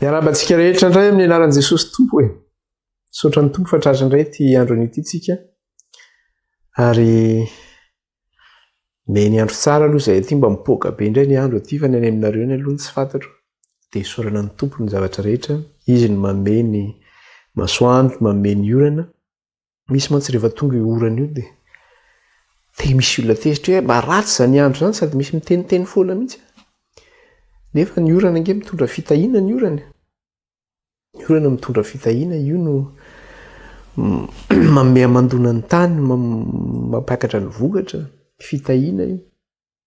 Miarahaba antsika rehetra indray amin'ny anaran'i Jesosy Tompo e. Misaotra ny Tompo fa tratra indray ity androny ity tsika. Ary meny andro tsara aloha izay ity mba mipoaka be indray ny andro ity fa ny any aminareo ny aloha ny tsy fantatro. Dia isaorana ny Tompo ny zavatra rehetra. Izy no mamehy ny masoandro, mamehy ny orana. Misy mantsy rehefa tonga io orana io dia dia misy olona tezitra hoe mba ratsy izany andro izany sady misy miteniteny foana mihitsy. Nefa ny orana ange mitondra fitahiana ny orana. E. Ny orana mitondra fitahiana io no manome amandona ny tany, mampiakatra ny vokatra, fitahiana io.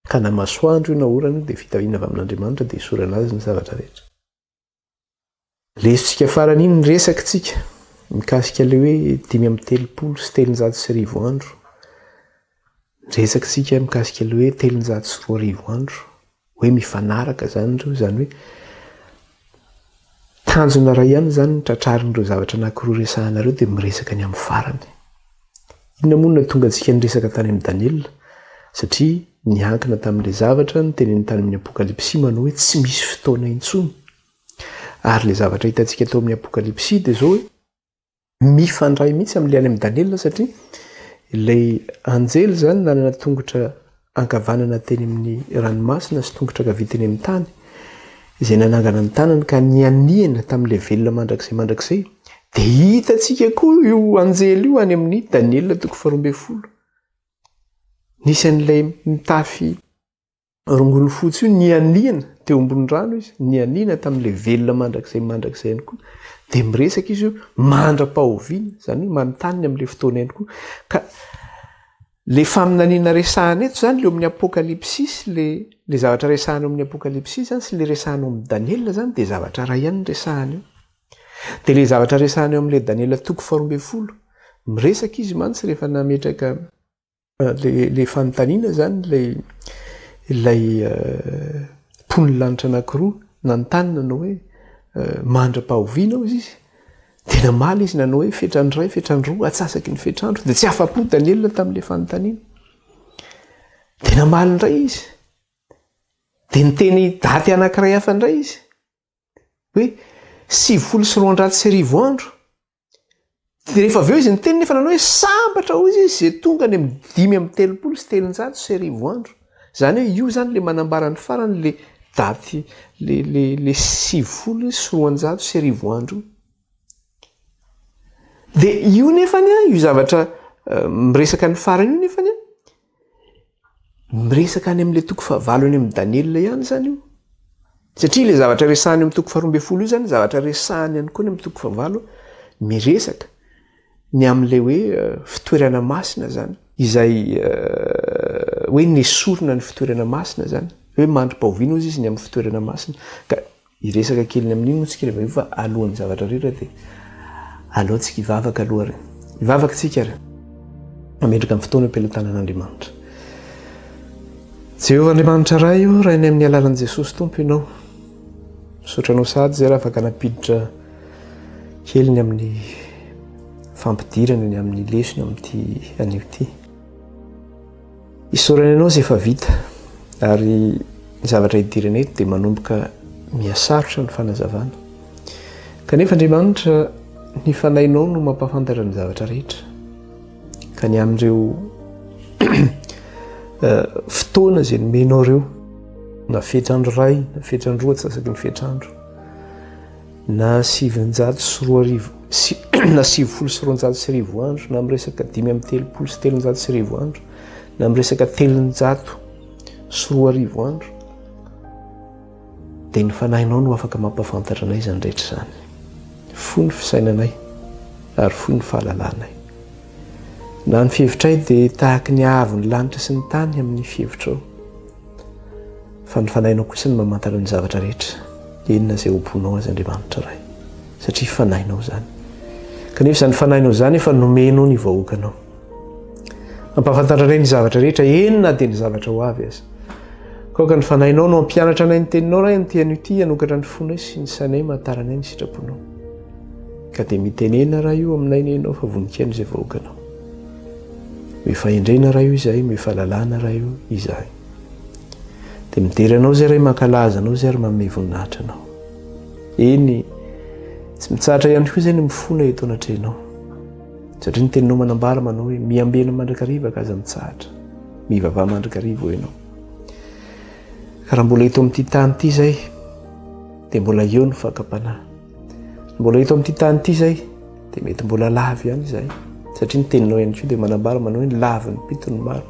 Ka na masoandro io na orana io dia fitahiana avy amin'Andriamanitra dia isorana azy ny zavatra rehetra. Resintsika farany iny ny resakintsika mikasika ilay hoe dimy amby telopolo sy telonjato sy arivo andro. Resakintsika mikasika ilay hoe telonjato sy roa arivo andro. Hoe mifanaraka izany ireo izany hoe tanjona iray ihany izany ny tratrarin'ireo zavatra anankiroa resahanareo dia miresaka ny amin'ny farany. Inona moa no nahatonga antsika niresaka tany amin'i Daniela? Satria niankina tamin'ilay zavatra noteneniny tany amin'ny Apokalypsy manao hoe tsy misy fotoana intsony. Ary ilay zavatra hitantsika tao amin'ny Apokalypsy dia izao hoe mifandray mihitsy amin'ilay any amin'i Daniela satria ilay anjely izany nanana tongotra ankavanana teny amin'ny ranomasina sy tongotra ankavia teny amin'ny tany, izay nanangana ny tanany ka nianiana tamin'ilay velona mandrakizay mandrakizay, dia hitantsika koa io anjely io any amin'ny Daniela toko faharoa ambin'ny folo. Nisy an'ilay mitafy rongony fotsy io nianiana teo ambony rano izy, nianiana tamin'ilay velona mandrakizay mandrakizay ihany koa. Dia miresaka izy io mandra-pahoviana, izany hoe manontany ny amin'ilay fotoana ihany koa. Ka Le faminaniana resahana eto zany le eo amin'ny apokalypsy sy le le zavatra resahana eo amin'ny apokalypsy zany sy le resahana eo amin'ny Daniela zany de zavatra iray ihany ny resahana eo. De le zavatra resahana eo amin'le Daniela toko faharoa ambin'ny folo, miresaka izy mantsy rehefa nametraka le le fanontaniana zany le ilay mponin'ny lanitra anankiroa nanontany nanao hoe mandra-pahoviana hozy izy Dia namaly izy nanao hoe, Fetrany iray, fetrany roa, atsasaky ny fetr'andro. Dia tsy afa-po Daniela tamin'ilay fanontaniana. Dia namaly indray izy. Dia niteny daty anankiray hafa indray izy. Hoe, sivifolo sy roanjato sy arivo andro. Dia rehefa avy eo izy niteny nefa nanao hoe, sambatra hoy izy izay tonga any amin'ny dimy amin'ny telopolo sy telonjato sy arivo andro. Zany hoe io zany le manambara ny farany le daty le le le sivifolo sy roanjato sy arivo andro io. De io nefany a io zavatra miresaka ny farany io nefany a miresaka any amin'le toko fahavalo any amin'ny Daniela ihany zany io satria le zavatra resahany amin'ny toko faharoa amby folo io zany zavatra resahany ihany koa any amin'ny toko fahavalo miresaka ny amin'ilay hoe fitoerana masina zany izay hoe nesorina ny fitoerana masina zany hoe mandrom-pahoviana ozy izy ny amin'ny fitoerana masina ka iresaka keliny amin'iny moa tsika rehefa hoe alohan'ny zavatra rehetra dia alohantsika ivavaka aloha re ivavaka tsika re ametraka amin'ny fotoana am-pelotanan'Andriamanitra Jehovah Andriamanitra Ray o Rainay amin'ny alalan'i Jesosy Tompo ianao Misaotra anao sahady izay raha afaka nampiditra kely ny amin'ny fampidirana ny amin'ny lesona amin'ity anio ity. Isaorana anao izay efa vita ary ny zavatra idirana eto dia manomboka mihasarotra ny fanazavana. Kanefa Andriamanitra ny fanahinao no mampahafantatra ny zavatra rehetra. ka ny amin'ireo fotoana izay nomenao ireo na fetrandro ray na fetrandro atsasaky ny fetrandro na sivinjato sy roa arivo sy na sivifolo sy roanjato sy rivo andro na miresaka dimy amin'ny telopolo sy telonjato sy rivo andro na miresaka telonjato sy roa arivo andro Dia ny Fanahinao no afaka mampahafantatra anay izany rehetra izany. Foy ny fisainanay ary foy ny fahalalanay. Na ny fihevitray dia tahaky ny haavo ny lanitra sy ny tany amin'ny fihevitrao. Fa ny Fanahinao kosa no mamantatra ny zavatra rehetra, inona izay hobonao aza Andriamanitra Ray, satria Fanahinao izany. Kanefa izany Fanahinao izany efa nomenao ny vahoakanao. Ampahafantatra anay ny zavatra rehetra, eny na dia ny zavatra ho avy aza. Kaoka ny fanahinao no hampianatra anay ny teninao, Ray, amin'ity anio ity, hanokatra ny fonay sy ny sainay mataranay ny sitraponao. Ka dia mitenena, Ray o, aminay ny Enao fa voninkaino izay vahoakanao. Mio fahendrena, Ray o, izahay, mio fahalalana, Ray o, izahay. Dia midera Anao izay, Ray, mankalaza Anao izay ary manome voninahitra Anao. Eny, tsy mitsahatra ihany koa izay ny mifona eto anatrehanao. Satria ny teninao manambara manao hoe miambena mandrakariva ka aza mitsahatra. Mivavaha mandrakariva ho ianao. Ka raha mbola eto amin'ity tany ity izay, dia mbola eo ny fakam-panahy. Mbola eto amin'ity tany ity izay, dia mety mbola lavo ihany izay. Satria ny teninao ihany koa dia manambara manao hoe ny lavin'ny pito ny maro.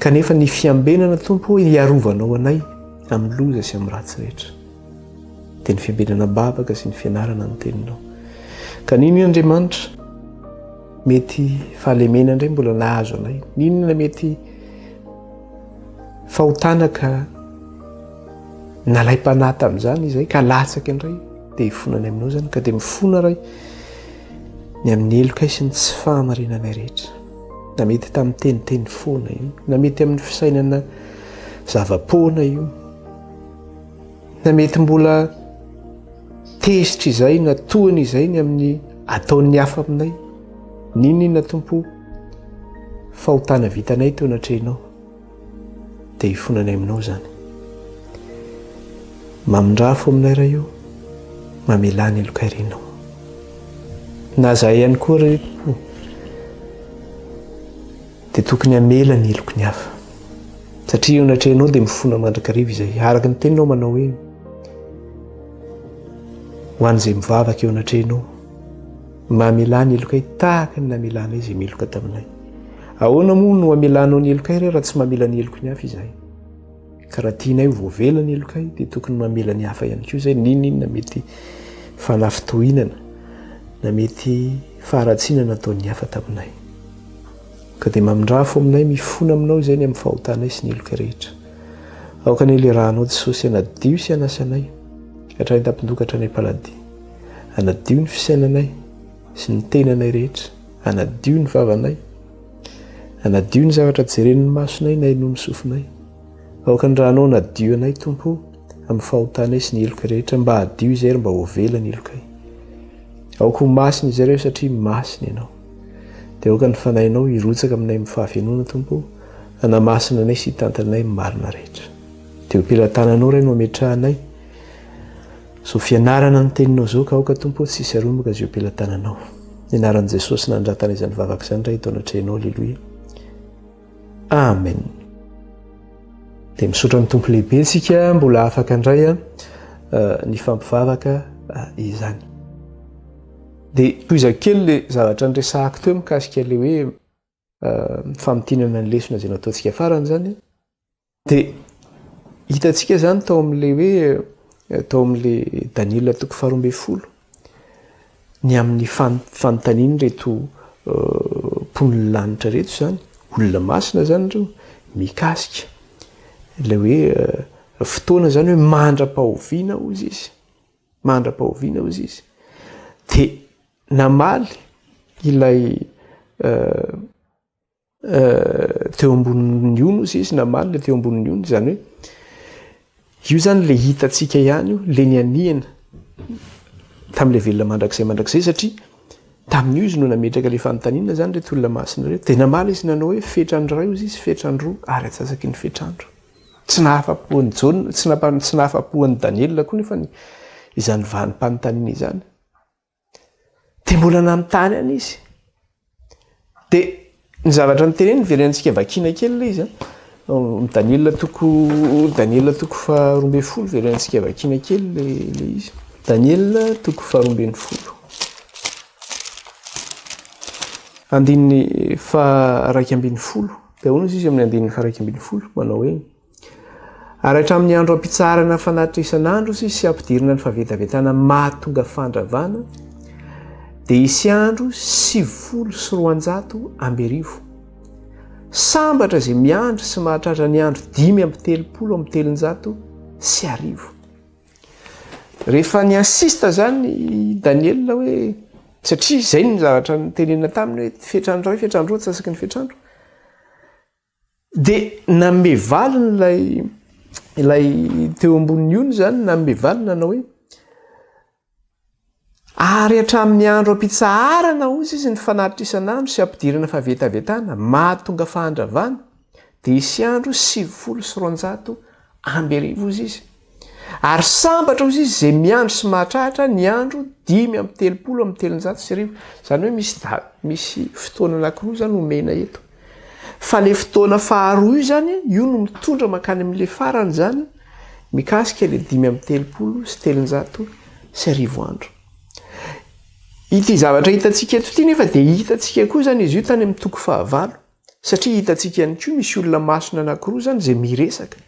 Kanefa ny fiambenana tompo hiarovanao anay amin'ny loza sy amin'ny ratsy rehetra. dia ny fiabenana babaka sy ny fianarana ny teninao. Ka nino Andriamanitra, mety fahalemena indray mbola nahazo anay, ninona mety fahotana ka nalaim-panahy tamin'izany izay ka latsaka indray dia hifona any aminao izany ka dia mifona ray ny amin'ny heloka sy ny tsy fahamarinanay rehetra na mety tamin'ny teniteny foana io na mety amin'ny fisainana zava-poana io Na mety mbola tezitra izay na tohany izay ny amin'ny ataon'ny hafa aminay, ninina tompo fahotana vitanay teo natrehinao, dia hifonanay aminao izany. Mamindrafo aminay raha io, mamelà ny lokairinao. Na zay ihany koa reto, Dia tokony hamela ny heloky ny hafa. Satria eo anatrehanao dia mifona mandrakariva izay. Araka ny teninao manao hoe, ho an'izay mivavaka eo anatrehanao, mba hamelà ny helokay tahaka ny namelanay izay meloka taminay. Ahoana moa no hamelanao ny helokay re raha tsy mamela ny heloky ny hafa izahay? Ka raha tianay ho voavela ny helokay dia tokony mamela ny hafa ihany koa izay n'inon'inona mety fanafintohinana na mety faharatsiana nataon'ny hafa taminay. Ka dia mamindrafo aminay mifona aminao izay ny amin'ny fahotanay sy ny heloka rehetra. Aoka ny helerahanao Jesosy hanadio sy hanasa anay hatramin'ny tampon-doha ka hatrany am-paladia. Hanadio ny fisainanay sy ny tenanay rehetra. Hanadio ny vavanay. Hanadio ny zavatra jeren'ny masonay na inoan'ny sofinay. Aoka ny ranao hanadio anay Tompo amin'ny fahotanay sy ny heloka rehetra. Mba hadio izay ary mba ho avela ny helokay. Aoka ho masina izay ireo satria masina ianao. Dia aoka ny Fanahinao hirotsaka aminay amin'ny fahavenoana, Tompo o, hanamasina anay sy hitantana anay amin'ny marina rehetra. Dia eo am-pelatananao, Ray, no ametrahanay izao fianarana ny Teninao izao, ka aoka, Tompo o, tsy hisy haromoka izay eo am-pelatananao. Ny anaran'i Jesosy nanandratana izany vavaka izany, Ray, eto anatrehanao, Aleloia. Amen. Dia misaotra amin'ny Tompo lehibe tsika, mbola afaka indray nifampivavaka izany. Dia tohiza kely le zavatra niresahako teo mikasika le hoe famintinana ny lesona izay nataontsika farany zany. Dia hitantsika zany tao amin'le hoe tao amin'le Daniela toko faharoa ambin'ny folo ny amin'ny fanontaniany reto mpon'ny lanitra reto zany olona masina zany reo mikasika ilay hoe fotoana zany hoe mandra-pahoviana hozy izy mandra-pahoviana hozy izy de namaly ilay teo ambonin'ny ony ozy izy namaly le teo ambonin'ny ony zany hoe io zany le hitatsika ihany io le ny aniana tam'le velona mandrakizay mandrakizay satria tamin'io izy no nametraka le fanontaniana zany re tolona masina reo de namaly izy nanao hoe fetrandro ray ozy izy fetrandro ary atsasaky ny fetrandro Tsy nahafa-po an'i Jaona, tsy nampa, tsy nahafa-po an'i Daniela koa nefa ny, izany vanim-panontaniana izany. Dia mbola nanontany any izy. Dia ny zavatra noteneniny, very antsika vakina kely ilay izy an. Daniela toko, Daniela toko faharoa ambin'ny folo, very antsika vakina kely ilay, ilay izy. Daniela toko faharoa ambin'ny folo. Andininy faha raika ambin'ny folo. Dia hoy izy amin'ny andininy faha-iraika ambin'ny folo, manao hoe, Ary hatramin'ny andro hampitsaharana fanatitra isan'andro sy hampidirana ny fahavetavetana mahatonga fandravana, dia hisy andro sivifolo sy roanjato amby arivo. Sambatra izay miandry sy mahatratra ny andro dimy amby telopolo amby telonjato sy arivo. Rehefa ni insiste zany i Daniel hoe satria zay ny zavatra notenenina taminy hoe fetrany iray fetrany roa antsasaky ny fetr'andro dia nanome valiny ilay ilay teo ambonin'ny ony zany nanome valiny nanao hoe Ary hatramin'ny andro hampitsaharana, hoy izy, ny fanatitrisana andro sy hampidirana fahavetavetana mahatonga fahandravana, dia hisy andro sivifolo sy roanjato amby arivo, hoy izy. Ary sambatra, hoy izy, izay miandry sy mahatratra ny andro dimy amby telopolo amby telonjato sy arivo. Izany hoe misy misy fotoana anankiroa izany omena eto. Fa le fotoana faharoa io zany, io no mitondra mankany amin'le farany zany, mikasika le dimy amby telopolo sy telonjato sy arivo andro. Ity zavatra hitantsika eto ity nefa dia hitantsika koa zany izy io tany amin'ny toko fahavalo, satria hitantsika ihany koa misy olona masina anankiroa zany izay miresaka.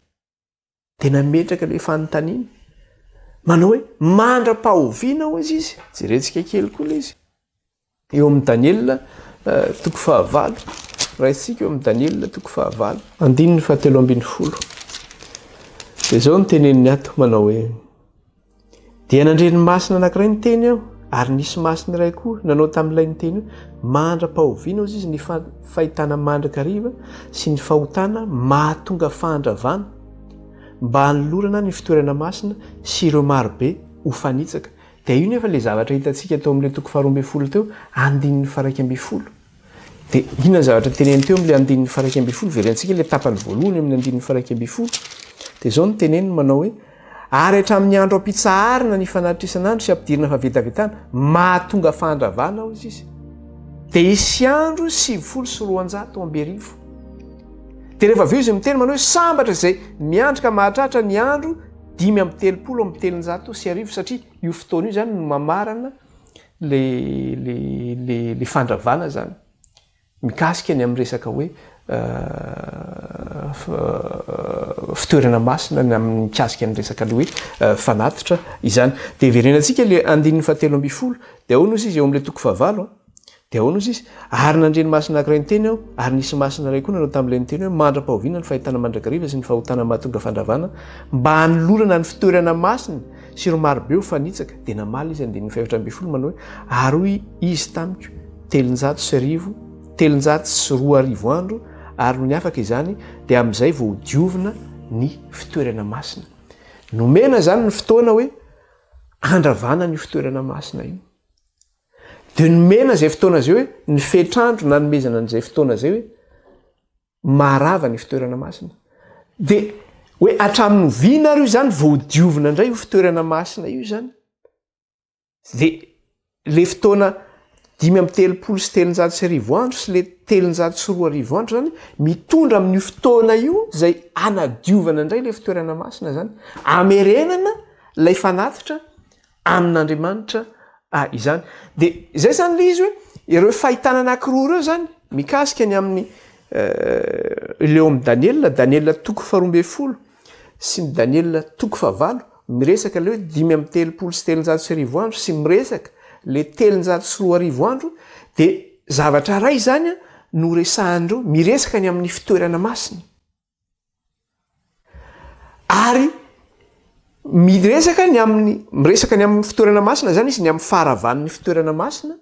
dia nametraka ilay fanontaniana manao hoe mandra-pahoviana ho izy izy jerentsika kely koa lay izy eo amin'ny daniela eh, toko fahavalo raintsika eo amin'ny daniela toko fahavalo andininy fahatelo ambin'ny folo dia izao ny teneniny ato manao hoe Dia nandre-ny masina anankiray niteny aho, ary nisy masina iray koa nanao tamin'ilay niteny hoe, Mandra-pahoviana, hozy izy, ny fahitana mandrakariva sy ny fahotana mahatonga fahandravana, mba hanolorana ny fitoerana masina sy ireo marobe ho fanitsaka? Dia io nefa ilay zavatra hitantsika tao amin'ilay toko faharoa ambin'ny folo teo, andininy faraika ambin'ny folo. Dia inona ny zavatra teneniny teo amin'ilay andininy faha iraika ambin'ny folo? Verentsika ilay tapany voalohany amin'ny andininy faha iraika ambin'ny folo. Dia izao no teneniny manao hoe, Ary hatramin'ny andro hampitsaharina ny fanatresana andro sy hampidirana fahavetavetana, mahatonga fahantravana ao izy izy. Dia hisy andro sivifolo sy roanjato amby arivo. Dia rehefa avy eo izy miteny manao hoe, Sambatra izay miandry ka mahatratra ny andro dimy amby telopolo amby telonjato sy arivo, satria io fotoana io izany no mamarana le le le le fandravana zany mikasika ny amin'ny resaka hoe fitoerana masina ny amin'ny mikasika ny resaka le hoe fanatitra izany de heverenantsika le andininy fahatelo ambin'ny folo de ahoana ozy izy eo amin'le toko fahavalo de ahoana ozy izy ary nandre ny masina akiray ny teny aho ary nisy masina iray koa nanao tamin'ilay ny teny hoe mandra-pahoviana ny fahitana mandrakariva sy ny fahotana mahatonga fandravana mba hanolorana ny fitoerana masina Sy ry marobe ho fanitsaka, dia namaly izy, andininy fahefatra ambin'ny folo, manao hoe, Ary hoy Izy tamiko, Telonjato sy arivo, telonjato sy roa arivo andro, ary nony afaka izany, dia amin'izay vao ho diovina ny fitoerana masina. Nomena izany ny fotoana hoe handravana an'io fitoerana masina io. Dia nomena izay fotoana izay hoe ny fetr'andro nanomezana an'izay fotoana izay hoe Maharava ny fitoerana masina. Dia hoe hatramin'ny oviana ary io izany vao ho diovina indray io fitoerana masina io izany? Dia ilay fotoana dimy amby telopolo sy telonjato sy arivo andro sy ilay telonjato sy roa arivo andro izany mitondra amin'io fotoana io izay hanadiovana indray ilay fitoerana masina izany. Hamerenana ilay fanatitra amin'Andriamanitra izany. Dia izay izany ilay izy hoe ireo fahitana anankiroa ireo izany mikasika ny amin'ny ilay ao amin'ny Daniela, Daniela toko faharoa ambin'ny folo sy ny Daniela toko fahavalo, miresaka ilay hoe dimy amby telopolo sy telonjato sy arivo andro sy miresaka ilay telonjato sy roa arivo andro dia zavatra iray izany no resahan'ireo miresaka ny amin'ny fitoerana masina. Ary miresaka ny amin'ny miresaka ny amin'ny fitoerana masina izany izy, ny amin'ny faharavan'ny fitoerana masina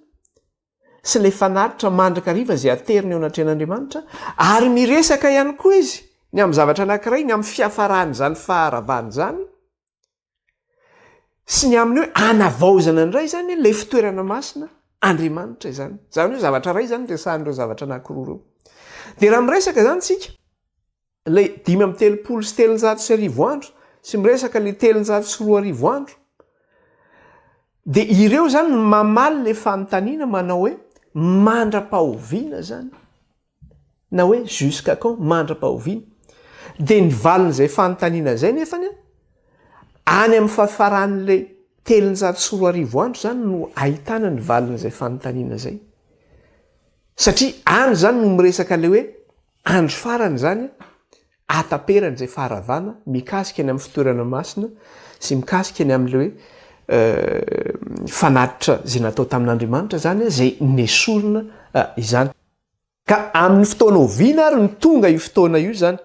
sy ilay fanatitra mandrakariva izay ateriny eo anatrehan'Andriamanitra, ary miresaka ihany koa izy ny amin'ny zavatra anankiray, ny amin'ny fiafaran'izany faharavana izany, sy ny amin'ny hoe anavaozana indray izany ilay fitoerana masina Andriamanitra izany. Izany hoe zavatra iray izany resahan'ireo zavatra anankiroa ireo. Dia raha miresaka izany tsika, ilay dimy amin'ny telopolo sy telonjato sy arivo andro, sy miresaka ilay telonjato sy roa arivo andro, dia ireo izany mamaly ilay fanontaniana manao hoe mandra-pahoviana izany? na hoe jusqu'à quand, mandra-pahoviana? dia ny valin'izay fanontaniana izay nefany an, any amin'ny farafaran'ilay telonjato sy roa arivo andro izany no ahitana ny valin'izay fanontaniana izay, satria any izany no miresaka ilay hoe andro farany izany an, ataperan'izay faharavana mikasika ny amin'ny fitoerana masina sy mikasika ny amin'ilay hoe fanatitra izay natao tamin'Andriamanitra izany an, izay nesorina izany. Ka amin'ny fotoana oviana ary no tonga io fotoana io izany?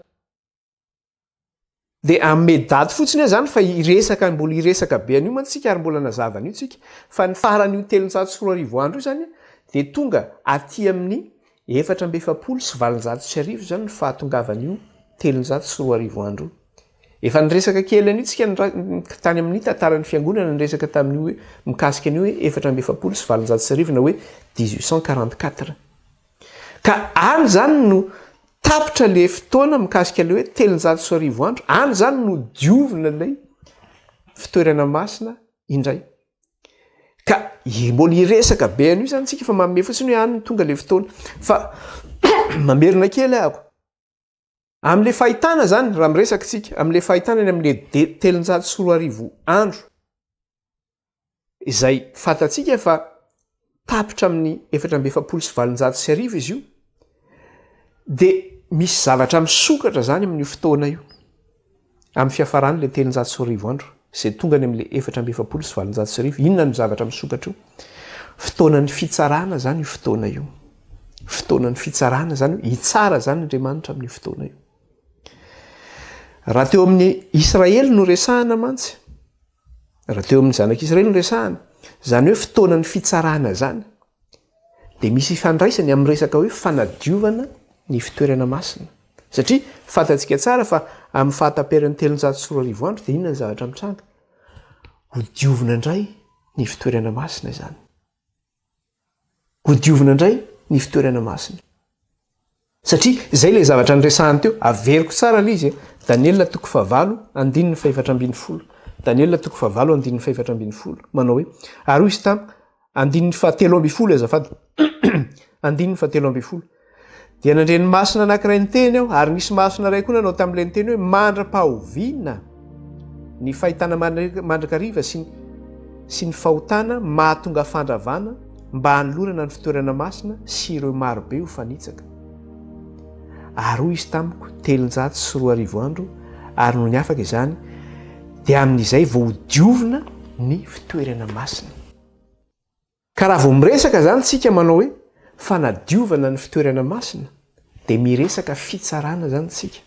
Dia hanome daty fotsiny aho izany fa hiresaka mbola hiresaka be an'io mantsy isika ary mbola nazava an'io isika fa ny faran'io telonjato sy roa arivo andro io izany dia tonga aty amin'ny efatra amby efapolo sy valonjato sy arivo izany ny fahatongavan'io telonjato sy roa arivo andro io. Efa niresaka kely an'io tsika tany amin'ny tantaran'ny fiangonana niresaka tamin'io hoe mikasika an'io hoe efatra amby efapolo sy valonjato sy arivo na hoe dix huit cent quarante quatre. Ka any izany no tapitra ilay fotoana mikasika ilay hoe telonjato sy arivo andro, any izany no diovina ilay fitoerana masina indray. Ka mbola hiresaka be an'io izany tsika fa manome fotsiny hoe any no tonga ilay fotoana. Fa mamerina kely ahako. Amin'ilay fahitana izany, raha miresaka isika, amin'ilay fahitana eny amin'ilay telonjato sy roa arivo andro, izay fantatsika fa tapitra amin'ny efatra amby efapolo sy valonjato sy arivo izy io, dia misy zavatra misokatra izany amin'io fotoana io. Amin'ny fiafaran'ilay telonjato sy roa arivo andro, izay tonga any amin'ilay efatra amby efapolo sy valonjato sy arivo, inona no zavatra misokatra io? Fotoanan'ny fitsarana izany io fotoana io. Fotoanan'ny fitsarana izany hoe hitsara izany Andriamanitra amin'io fotoana io. Raha teo amin'ny Israely no resahana mantsy, Raha teo amin'ny zanak'Israely no resahana, izany hoe fotoanan'ny fitsarana izany, dia misy ifandraisany amin'ny resaka hoe fanadiovana ny fitoerana masina. Satria fantatsika tsara fa amin'ny fahataperan'ny telonjato sy roa arivo andro dia inona ny zavatra mitranga? Hodiovina indray ny fitoerana masina izany. Ho diovina indray ny fitoerana masina. Satria izay ilay zavatra niresahany teo, averiko tsara ilay izy e, Daniela toko fahavalo, andininy fahefatra ambin'ny folo. Daniela toko fahavalo, andininy fahefatra ambin'ny folo. Manao hoe, ary hoy izy tamiko, andininy fahatelo ambin'ny folo e azafady, andininy fahatelo ambin'ny folo. Dia nandre ny masina anankiray niteny aho, ary nisy masina iray koa nanao tamin'ilay niteny hoe, Mandra-pahoviana ny fahitana mandrakariva sy ny, sy ny fahotana mahatonga fandravana mba hanolorana ny fitoerana masina sy ireo marobe ho fanitsaka. Ary hoy izy tamiko, Telonjato sy roa arivo andro ary nony afaka izany, dia amin'izay vao hodiovina ny fitoerana masina. Ka raha vao miresaka izany tsika manao hoe fanadiovana ny fitoerana masina dia miresaka fitsarana izany tsika.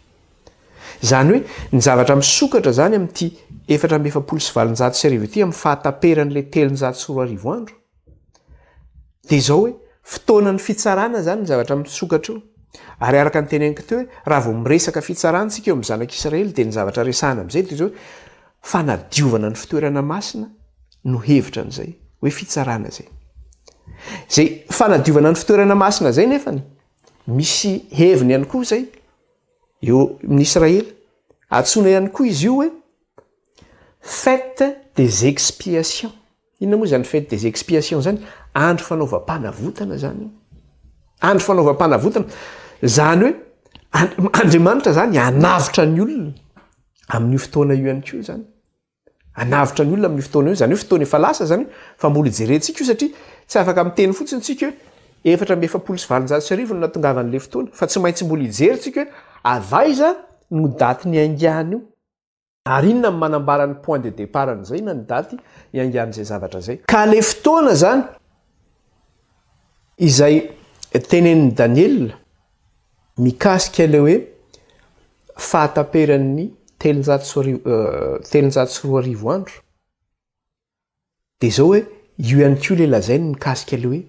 Izany hoe ny zavatra misokatra izany amin'ity efatra amby efapolo sy valonjato sy arivo ity amin'ny fahataperan'ilay telonjato sy roa arivo andro dia izao hoe fotoanan'ny fitsarana izany ny zavatra misokatra io. Ary araka ny teneniko teo hoe raha vao miresaka fitsarana tsika eo amin'ny zanak'israely dia ny zavatra resahana amin'izay dia izao hoe Fanadiovana ny fitoerana masina no hevitra an'izay hoe fitsarana izay. Izay fanadiovana ny fitoerana masina izay nefany, misy heviny ihany koa izay eo amin'ny Israely. Antsoina ihany koa izy io hoe fête des expiations. Inona moa izany fête des expiations izany? Andro fanaovam-panavotana izany io. Andro fanaovam-panavotana. Izany hoe Andriamanitra izany hanavotra ny olona amin'io fotoana io ihany koa izany. Hanavotra ny olona amin'io fotoana io. Izany hoe fotoana efa lasa izany. Fa mbola hijerentsika io satria tsy afaka miteny fotsiny isika hoe efatra amby efapolo sy valonjato sy arivo no nahatongavan'ilay fotoana. Fa tsy maintsy mbola hijery isika hoe avy aiza no daty niaingan'io. Ary inona no manambara ny point de départ an'izay na ny daty iangan'izay zavatra izay? Ka le fotoana zany izay tenenin'i Daniela mikasika ilay hoe fahataperan'ny telonjato sy roa arivo andro. Dia izao hoe, io ihany koa ilay lazainy mikasika ilay hoe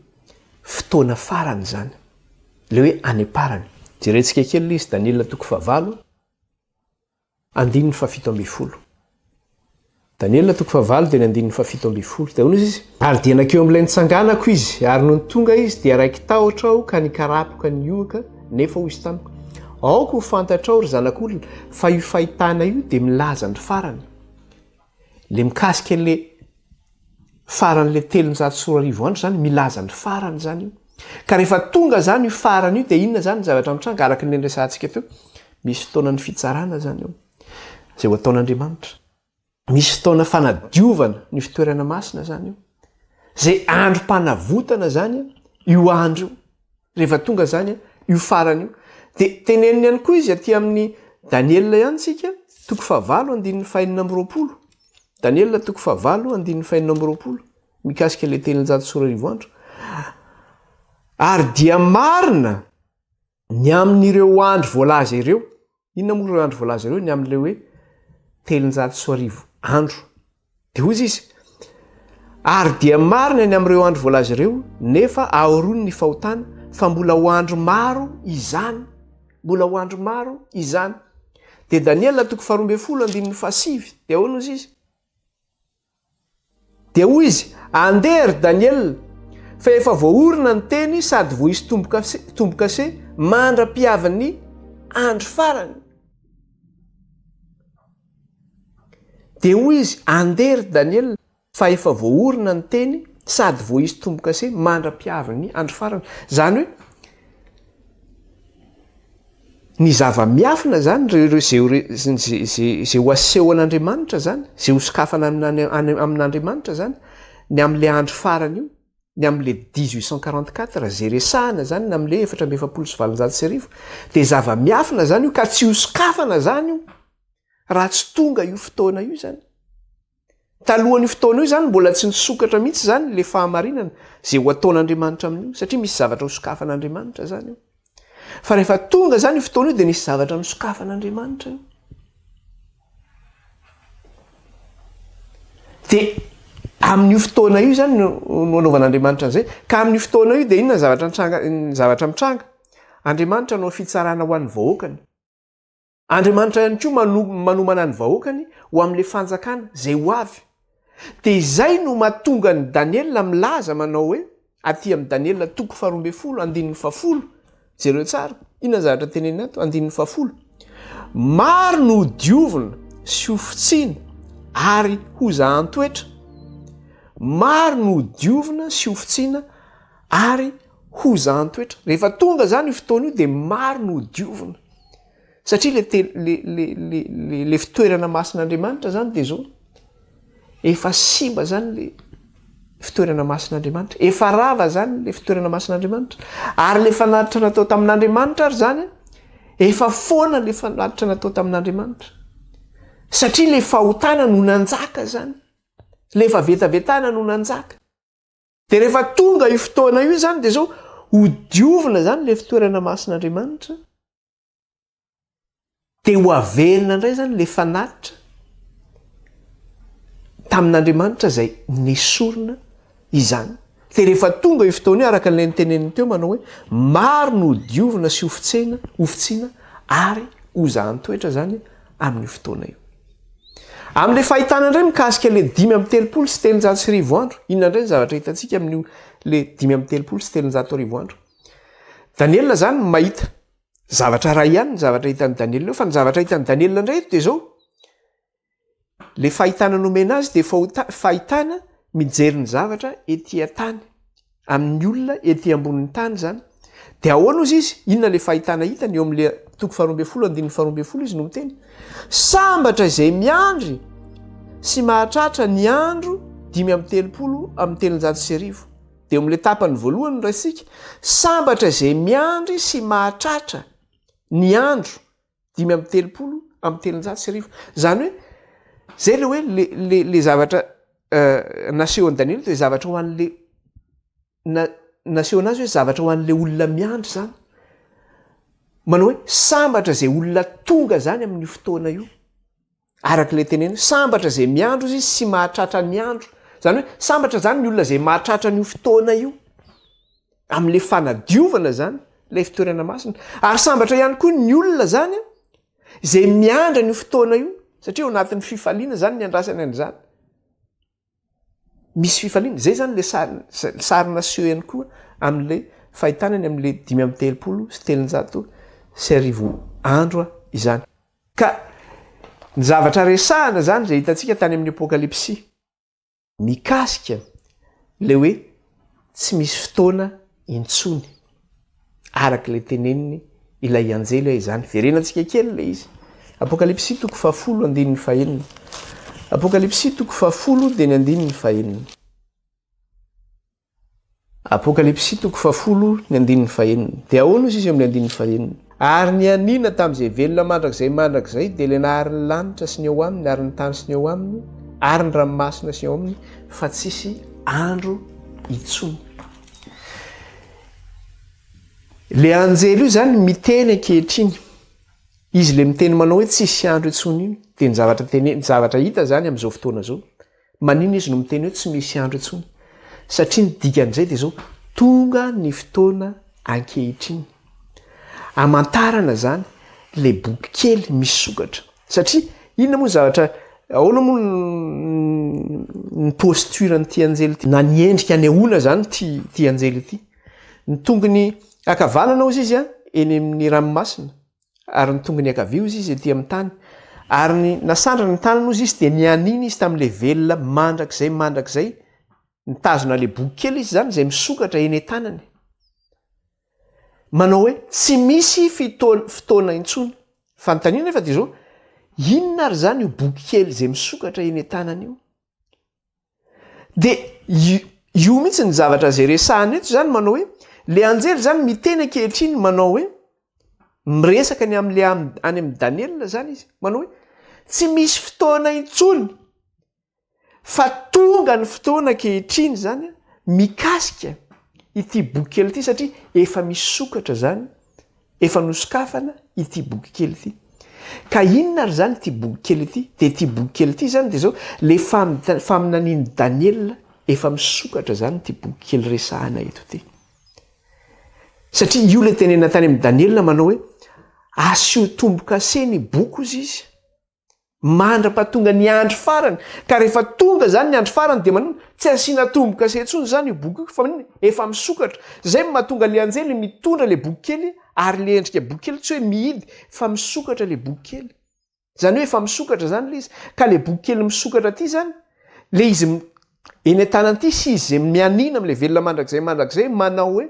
fotoana farany izany, ilay hoe any am-parany. Jerentsika kely ilay izy, Daniela toko fahavalo, andininy fahafito ambin'ny folo. Daniela toko fahavalo dia ny andininy fahafito ambin'ny folo. Dia hoy izy izy. Ary dia nankeo amin'ilay nitsanganako izy, ary nony tonga izy dia raiki-tahotra aho ka nikarapoka ny ohaka, nefa hoy izy tamiko, Aoka ho fantatrao, ry zanak'olona, fa io fahitana io dia milaza ny farany. Le mikasika an'le faran'le telonjato sy roa arivo andro zany milaza ny farany zany io. Ka rehefa tonga zany io farany io dia inona zany ny zavatra mitranga araka ny niresahantsika teo? Misy fotoanan'ny fitsarana zany eo zay ho ataon'Andriamanitra. Misy fotoana fanadiovana ny fitoerana masina zany io. Zay androm-panavotana zany io andro io. Rehefa tonga izany io farany io, dia teneniny ihany koa izy aty amin'ny Daniela ihany isika, toko fahavalo andininy fahenina amby roapolo. Daniela toko fahavalo andininy fahenina amby roapolo, mikasika ilay telonjato sy roa arivo andro. Ary dia marina ny amin'ireo andro voalaza ireo, Inona moa ireo andro voalaza ireo ny amin'ilay hoe telonjato sy roa arivo andro? Dia hoy izy, Ary dia marina ny amin'ireo andro voalaza ireo, nefa ahoroany ny fahotana, fa mbola ho andro maro izany. Mbola ho andro maro izany. Dia Daniela toko faharoa ambin'ny folo andininy fahasivy, dia ahoana hoy izy? Dia hoy izy, Andeha, ry Daniela, fa efa voaorina ny teny sady voaisy tombo-kase mandra-pihavin'ny andro farany. Dia hoy izy, Andeha, ry Daniela, fa efa voaorina ny teny sady voaisy tombo-kase mandra-pihavin'ny andro farany. Izany hoe, Ny zava-miafina izany, izay ho asehon'Andriamanitra izany, izay ho sokafana amin'Andriamanitra izany, ny amin'ilay andro farany io, ny amin'ilay dix huit cent quarante quatre izay resahana izany, ny amin'ilay efatra amby efapolo sy valonjato sy arivo, dia zava-miafina izany io ka tsy ho sokafana izany io raha tsy tonga io fotoana io izany. Talohan'io fotoana io izany mbola tsy nisokatra mihitsy izany ilay fahamarinana izay ho ataon'Andriamanitra amin'io, satria misy zavatra ho sokafan'Andriamanitra izany io. Fa rehefa tonga izany io fotoana io dia nisy zavatra nosokafan'Andriamanitra io. Dia amin'io fotoana io izany no anaovan'Andriamanitra an'izay. Ka amin'io fotoana io dia inona ny zavatra mitranga? Andriamanitra hanao fitsarana ho an'ny vahoakany. Andriamanitra ihany koa mano, manomana ny vahoakany ho amin'ilay fanjakana izay ho avy. Dia izay no mahatonga an'i Daniela milaza manao hoe, aty amin'i Daniela toko faharoa ambin'ny folo, andininy fahafolo, jereo tsara, inona ny zavatra teneniny ato, andininy fahafolo, maro no ho diovina sy ho fotsiny ary ho zahan-toetra, maro no ho diovina sy ho fotsina Ary hozahan-toetra. Rehefa tonga izany io fotoana io dia maro no hodiovina. Satria le te, le, le, le, le, le fitoerana masin'Andriamanitra izany dia izao. Efa simba izany le fitoerana masin'Andriamanitra. Efa rava izany le fitoerana masin'Andriamanitra. Ary le fanatitra natao tamin'Andriamanitra ary izany, efa foana le fanatitra natao tamin'Andriamanitra. Satria le fahotana no nanjaka izany. Le efa vetavetana no nanjaka. Dia rehefa tonga io fotoana io izany dia izao hodiovina izany ilay fitoerana masin'Andriamanitra dia ho averina indray izany ilay fanatitra tamin'Andriamanitra izay nesorina izany. Dia rehefa tonga io fotoana io araka ilay niteneniny teo manao hoe maro no hodiovina sy hofitsena, hofitsina ary hozahan-toetra izany amin'io fotoana io. Amin'ilay fahitana indray mikasika ilay dimy amby telopolo sy telonjato sy arivo andro, inona indray ny zavatra hitantsika amin'io ilay dimy amby telopolo sy telonjato arivo andro? Daniela izany mahita zavatra iray ihany ny zavatra hitan'i Daniela eo, fa ny zavatra hitan'i Daniela indray eto dia izao, ilay fahitana nomena azy dia fahota- fahitana mijery ny zavatra ety an-tany. amin'ny olona ety ambonin'ny tany izany, dia ahoana hozy izy, inona ilay fahitana hitany, eo amin'ilay toko faharoa ambin'ny folo andininy faharoa ambin'ny folo izy no miteny, sambatra izay miandry sy mahatratra ny andro dimy amby telopolo amin'ny telonjato sy arivo, dia eo amin'ilay tapany voalohany no raisintsika, sambatra izay miandry sy mahatratra ny andro dimy amby telopolo amby telonjato sy arivo zany hoe zay le hoe le le le zavatra euh, nasehon'i Daniela de zavatra ho an'le na nasehona azy hoe zavatra ho an'le olona miandry zany manao hoe sambatra zay olona tonga zany amin'io fotoana io Araka ilay tenenina, sambatra izay miandry izy sy mahatratra ny andro. Izany hoe, sambatra izany ny olona izay mahatratra an'io fotoana io, amin'ilay fanadiovana izany, ilay fitoerana masina. Ary sambatra ihany koa ny olona izany izay miandry an'io fotoana io, satria ao anatin'ny fifaliana izany ny andrasany an'izany. misy fifaliana, izay izany ilay sariny, ny sary naseho ihany koa amin'ilay fahitana eny amin'ilay dimy amby telopolo sy telonjato sy arivo andro izany. Ka ny zavatra resahina izany izay hitantsika tany amin'ny Apokalypsy mikasika ilay hoe tsy misy fotoana intsony. Araka ilay teneniny ilay anjely hoe izany. Verenantsika kely ilay izy. Apokalypsy toko fahafolo andininy fahenina. Apokalypsy toko fahafolo dia ny andininy fahenina. Apokalypsy toko fahafolo ny andininy fahenina. Dia ahoana hozy izy amin'ilay andininy fahenina? Ary ny anina tamin'izay velona mandrakizay mandrakizay dia ilay nahary ny lanitra sy ny ao aminy ary ny tany sy ny ao aminy ary ny ranomasina sy ny ao aminy fa tsisy andro intsony. Ilay anjely io zany miteny ankehitriny. Izy ilay miteny manao hoe tsy hisy andro intsony iny. Dia ny zavatra tene, ny zavatra hita zany amin'izao fotoana izao. Maninona izy no miteny hoe tsy misy andro intsony? Satria ny dikan'izay dia izao, tonga ny fotoana ankehitriny. Amantarana zany ilay boky kely misokatra. Satria inona moa ny zavatra ahoana moa ny posture an'ity anjely ity na ny endrika anehoana zany ity ity anjely ity. Ny tongony ankavanana hozy izy a eny amin'ny ranomasina ary ny tongony ankavia hozy izy ety amin'ny tany ary ny nasandrany ny tanany hozy izy dia nianiana izy tamin'ilay velona mandrakizay mandrakizay nitazona ilay boky kely izy zany izay misokatra eny an-tanany. manao hoe tsy misy fotoana intsony. Fanontaniana nefa dia izao, inona ary izany io boky kely izay misokatra eny an-tanana io? Dia io mihitsy ny zavatra izay resahina eto izany manao hoe ilay anjely izany miteny ankehitriny manao hoe miresaka ny amin'ilay any amin'i Daniela izany izy manao hoe tsy misy fotoana intsony. fa tonga ny fotoana ankehitriny izany mikasika ity boky kely ity satria efa misokatra izany, efa nosokafana ity boky kely ity. Ka inona ary izany ity boky kely ity? Dia ity boky kely ity izany dia izao, ilay faminanian'i Daniela efa misokatra izany ity boky kely resahana eto ity. Satria io ilay tenenina tany amin'i Daniela manao hoe asio tombo-kase ny boky hozy izy. Mandrapa tonga ny andro farany. Ka rehefa tonga zany ny andro farany dia maninona? Tsy asiana tombo-kase intsony izany io boky io fa maninona? Efa misokatra. Izay no mahatonga ilay anjely mitondra ilay boky kely ary ilay endrika boky kely tsy hoe mihidy fa misokatra ilay boky kely. Izany hoe efa misokatra izany ilay izy. Ka ilay boky kely misokatra ity izany, ilay izy eny an-tanany ity sy izy izay mianiana amin'ilay velona mandrakizay mandrakizay manao hoe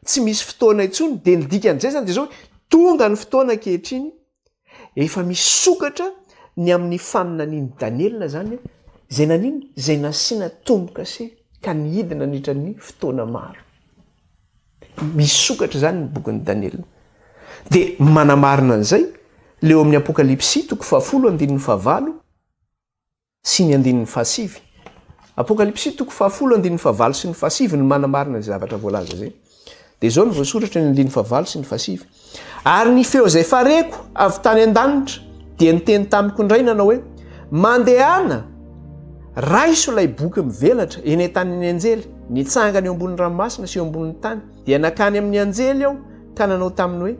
tsy misy fotoana intsony dia ny dikan'izay izany dia izao hoe tonga ny fotoana ankehitriny Efa misokatra ny amin'ny faminanian'i Daniela izany, izay nanino? Izay nasiana tombo-kase ka nihidy nandritra ny fotoana maro. Misokatra izany ny bokin'i Daniela. Dia manamarina an'izay ilay ao amin'ny Apokalypsy toko fahafolo andininy fahavalo, sy ny andininy fahasivy. Apokalypsy toko fahafolo andininy fahavalo sy ny fahasivy no manamarina izay zavatra voalaza izay. Dia izao no voasoratra eo amin'ny andininy fahavalo sy ny fahasivy, Ary ny feo izay fareko avy tany an-danitra dia niteny tamiko indray nanao hoe, Mandehana, raiso ilay boky mivelatra eny an-tanin'ny anjely nitsangana eo ambonin'ny ranomasina sy eo ambonin'ny tany. Dia nankany amin'ny anjely aho ka nanao taminy hoe,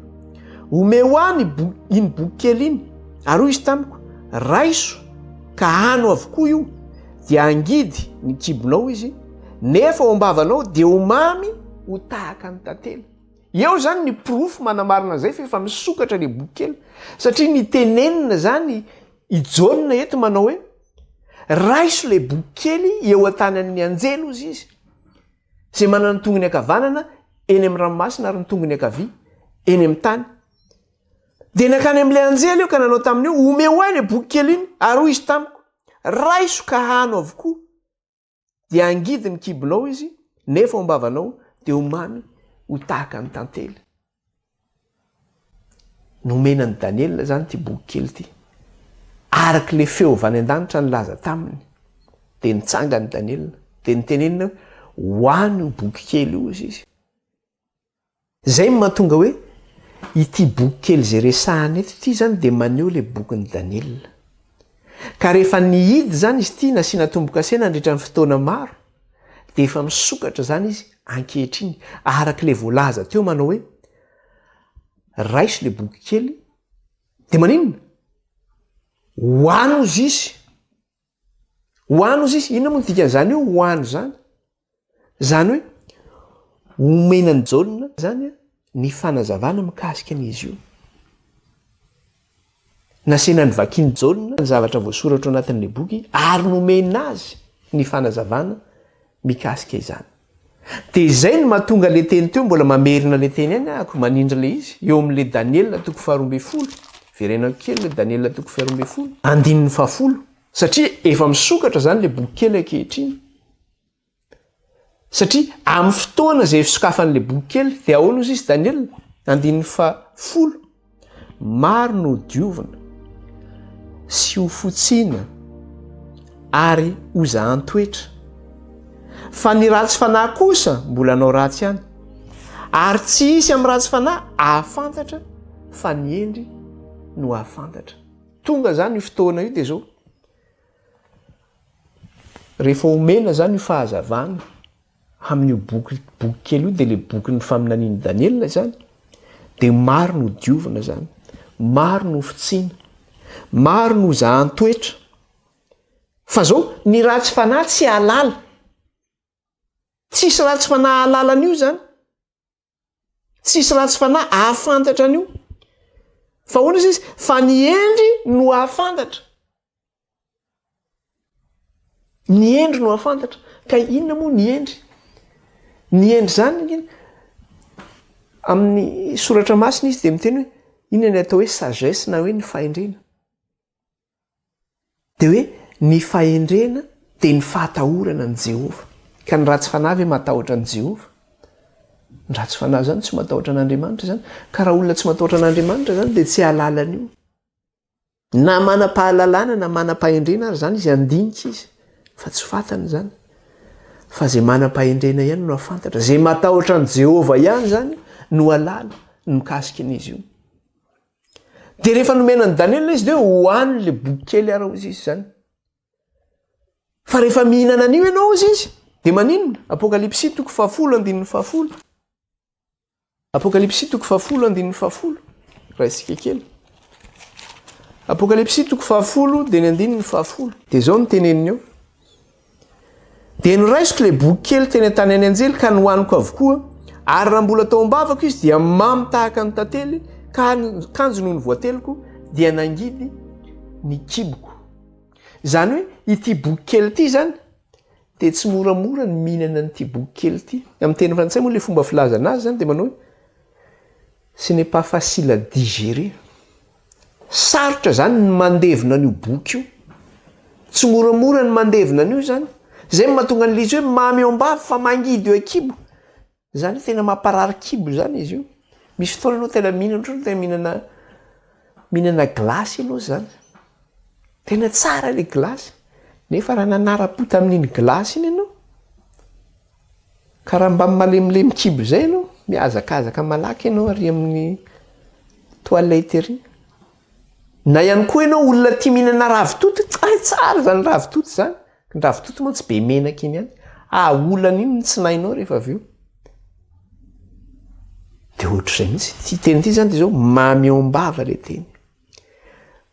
Omeo ahy ny bo, iny boky kely iny. Ary hoy izy tamiko, Raiso, ka ano avokoa io, dia hangidy ny kibonao izy, nefa ao am-bavanao dia ho mamy ho tahaka ny tantely. Eo izany ny porofo manamarina an'izay fa efa misokatra ilay boky kely. Satria nitenenina izany i Jaona eto manao hoe, Raiso ilay boky kely eo an-tanan'ny anjely, hozy izy. izay manana ny tongony ankavanana eny amin'ny ranomasina ary ny tongony ankavia eny amin'ny tany. Dia nankany amin'ilay anjely aho ka nanao taminy hoe, Omeo ahy ilay boky kely iny, ary hoy izy tamiko, Raiso ka hano avokoa, dia hangidy ny kibonao izy, nefa ao am-bavanao dia ho mamy ho tahaka ny tantely. Nomena an'i Daniela izany ity boky kely ity. Araka ilay feo avy any an-danitra nilaza taminy, dia nitsangana i Daniela, dia nitenenina hoe, Ho any io boky kely io, hoy izy. Izay no mahatonga hoe ity boky kely izay resahana eto ity izany dia maneho ilay bokin'i Daniela. Ka rehefa nihidy izany izy ity, nasiana tombo-kase nandritra ny fotoana maro, dia efa misokatra izany izy ankehitriny araka ilay voalaza teo manao hoe raiso ilay boky kely dia maninona ho any ozy izy ho any ozy izy inona moa ny dikan'izany hoe ho any izany izany hoe omena ny jaona izany a Ny fanazavana mikasika an'izy io. Nasaina novakian'i Jaona ny zavatra voasoratra ao anatin'ilay boky ary nomena azy ny fanazavana mikasika izany. Dia izay no mahatonga ilay teny teo, mbola mamerina ilay teny ihany ahako, manindry ilay izy, eo amin'ilay Daniela toko faharoa ambin'ny folo, verenao kely ilay Daniela toko faharoa ambin'ny folo, andininy fahafolo, satria efa misokatra izany ilay boky kely ankehitriny. Satria amin'ny fotoana izay fisokafan'ilay boky kely dia ahoana hozy izy Daniela andininy fahafolo maro no diovina sy ho fotsiana ary ho zahan toetra fa ny ratsy fanahy kosa mbola anao ratsy ihany ary tsy hisy amin'ny ratsy fanahy ahafantatra fa ny hendry no ahafantatra tonga zany io fotoana io dia zao Rehefa omena izany io fahazavana amin'io boky boky kely io dia ilay bokin'ny faminanian'i Daniela izany dia maro no diovina izany, maro no fitsiana, maro no zahan-toetra. Fa izao ny ratsy fanahy tsy halala. Tsisy ratsy fanahy halala an'io izany. tsisy ratsy fanahy ahafantatra an'io fa hoana izy izy fa ny endry no ahafantatra ny endry no ahafantatra ka inona moa ny endry ny endry zany ngy amin'ny soratra masina izy de miteny hoe inona ny atao hoe sagesse na hoe ny fahendrena Dia hoe ny fahendrena dia ny fahatahorana an'i Jehovah. Ka ny ratsy fanahy ve matahotra an'i Jehovah? Ny ratsy fanahy izany tsy matahotra an'Andriamanitra izany. Ka raha olona tsy matahotra an'Andriamanitra izany dia tsy hahalala an'io. Na manam-pahalalana na manam-pahendrena ary izany izy handinika izy fa tsy fantany izany. Fa izay manam-pahendrena ihany no hahafantatra. Izay matahotra an'i Jehovah ihany izany no hahalala ny mikasika an'izy io. Dia rehefa nomena an'i Daniela izy dia hoe hohano ilay boky kely ary hozy izy izany. Fa rehefa mihinana an'io ianao hozy izy, dia maninona? Apokalypsy toko fahafolo andininy fahafolo. Apokalypsy toko fahafolo andininy fahafolo. Raha isika kely. Apokalypsy toko fahafolo dia ny andininy fahafolo. Dia izao ny teneniny eo. Dia noraisiko ilay boky kely teny an-tany an'i Anjely ka nohaniko avokoa, ary raha mbola tao am-bavako izy dia mamy tahaka ny tantely ka ny kanjo nony voateliko dia nangidy ny kiboko. Izany hoe ity boky kely ity izany dia tsy moramora ny mihinana an'ity boky kely ity. Amin'ny teny frantsay moa ilay fomba filazana azy izany dia manao hoe ce n'est pas facile à digérer. Sarotra izany ny mandevina an'io boky io. Tsy moramora ny mandevina an'io izany. Izay no mahatonga ny lisy hoe mamy ao am-bava fa mangidy eo an-kibo. Izany hoe tena mamparary kibo izany izy io. Misy fotoana ianao tena mihinana ohatran'ny hoe tena mihinana mihinana gilasy ianao izany. Tena tsara ilay gilasy nefa raha nanara-po tamin'iny gilasy iny ianao, Ka raha mba malemilemy kibo izay ianao, mihazakazaka malaky ianao ary amin'ny toilette ery. Na ihany koa ianao olona tia mihinana ravitoto, hay tsara izany ravitoto izany, ny ravitoto mantsy be menaka iny ihany, ahaolana iny ny tsinainao rehefa avy eo. Dia ohatr'izay mihitsy ity teny ity izany dia izao, mamy ao am-bava ilay teny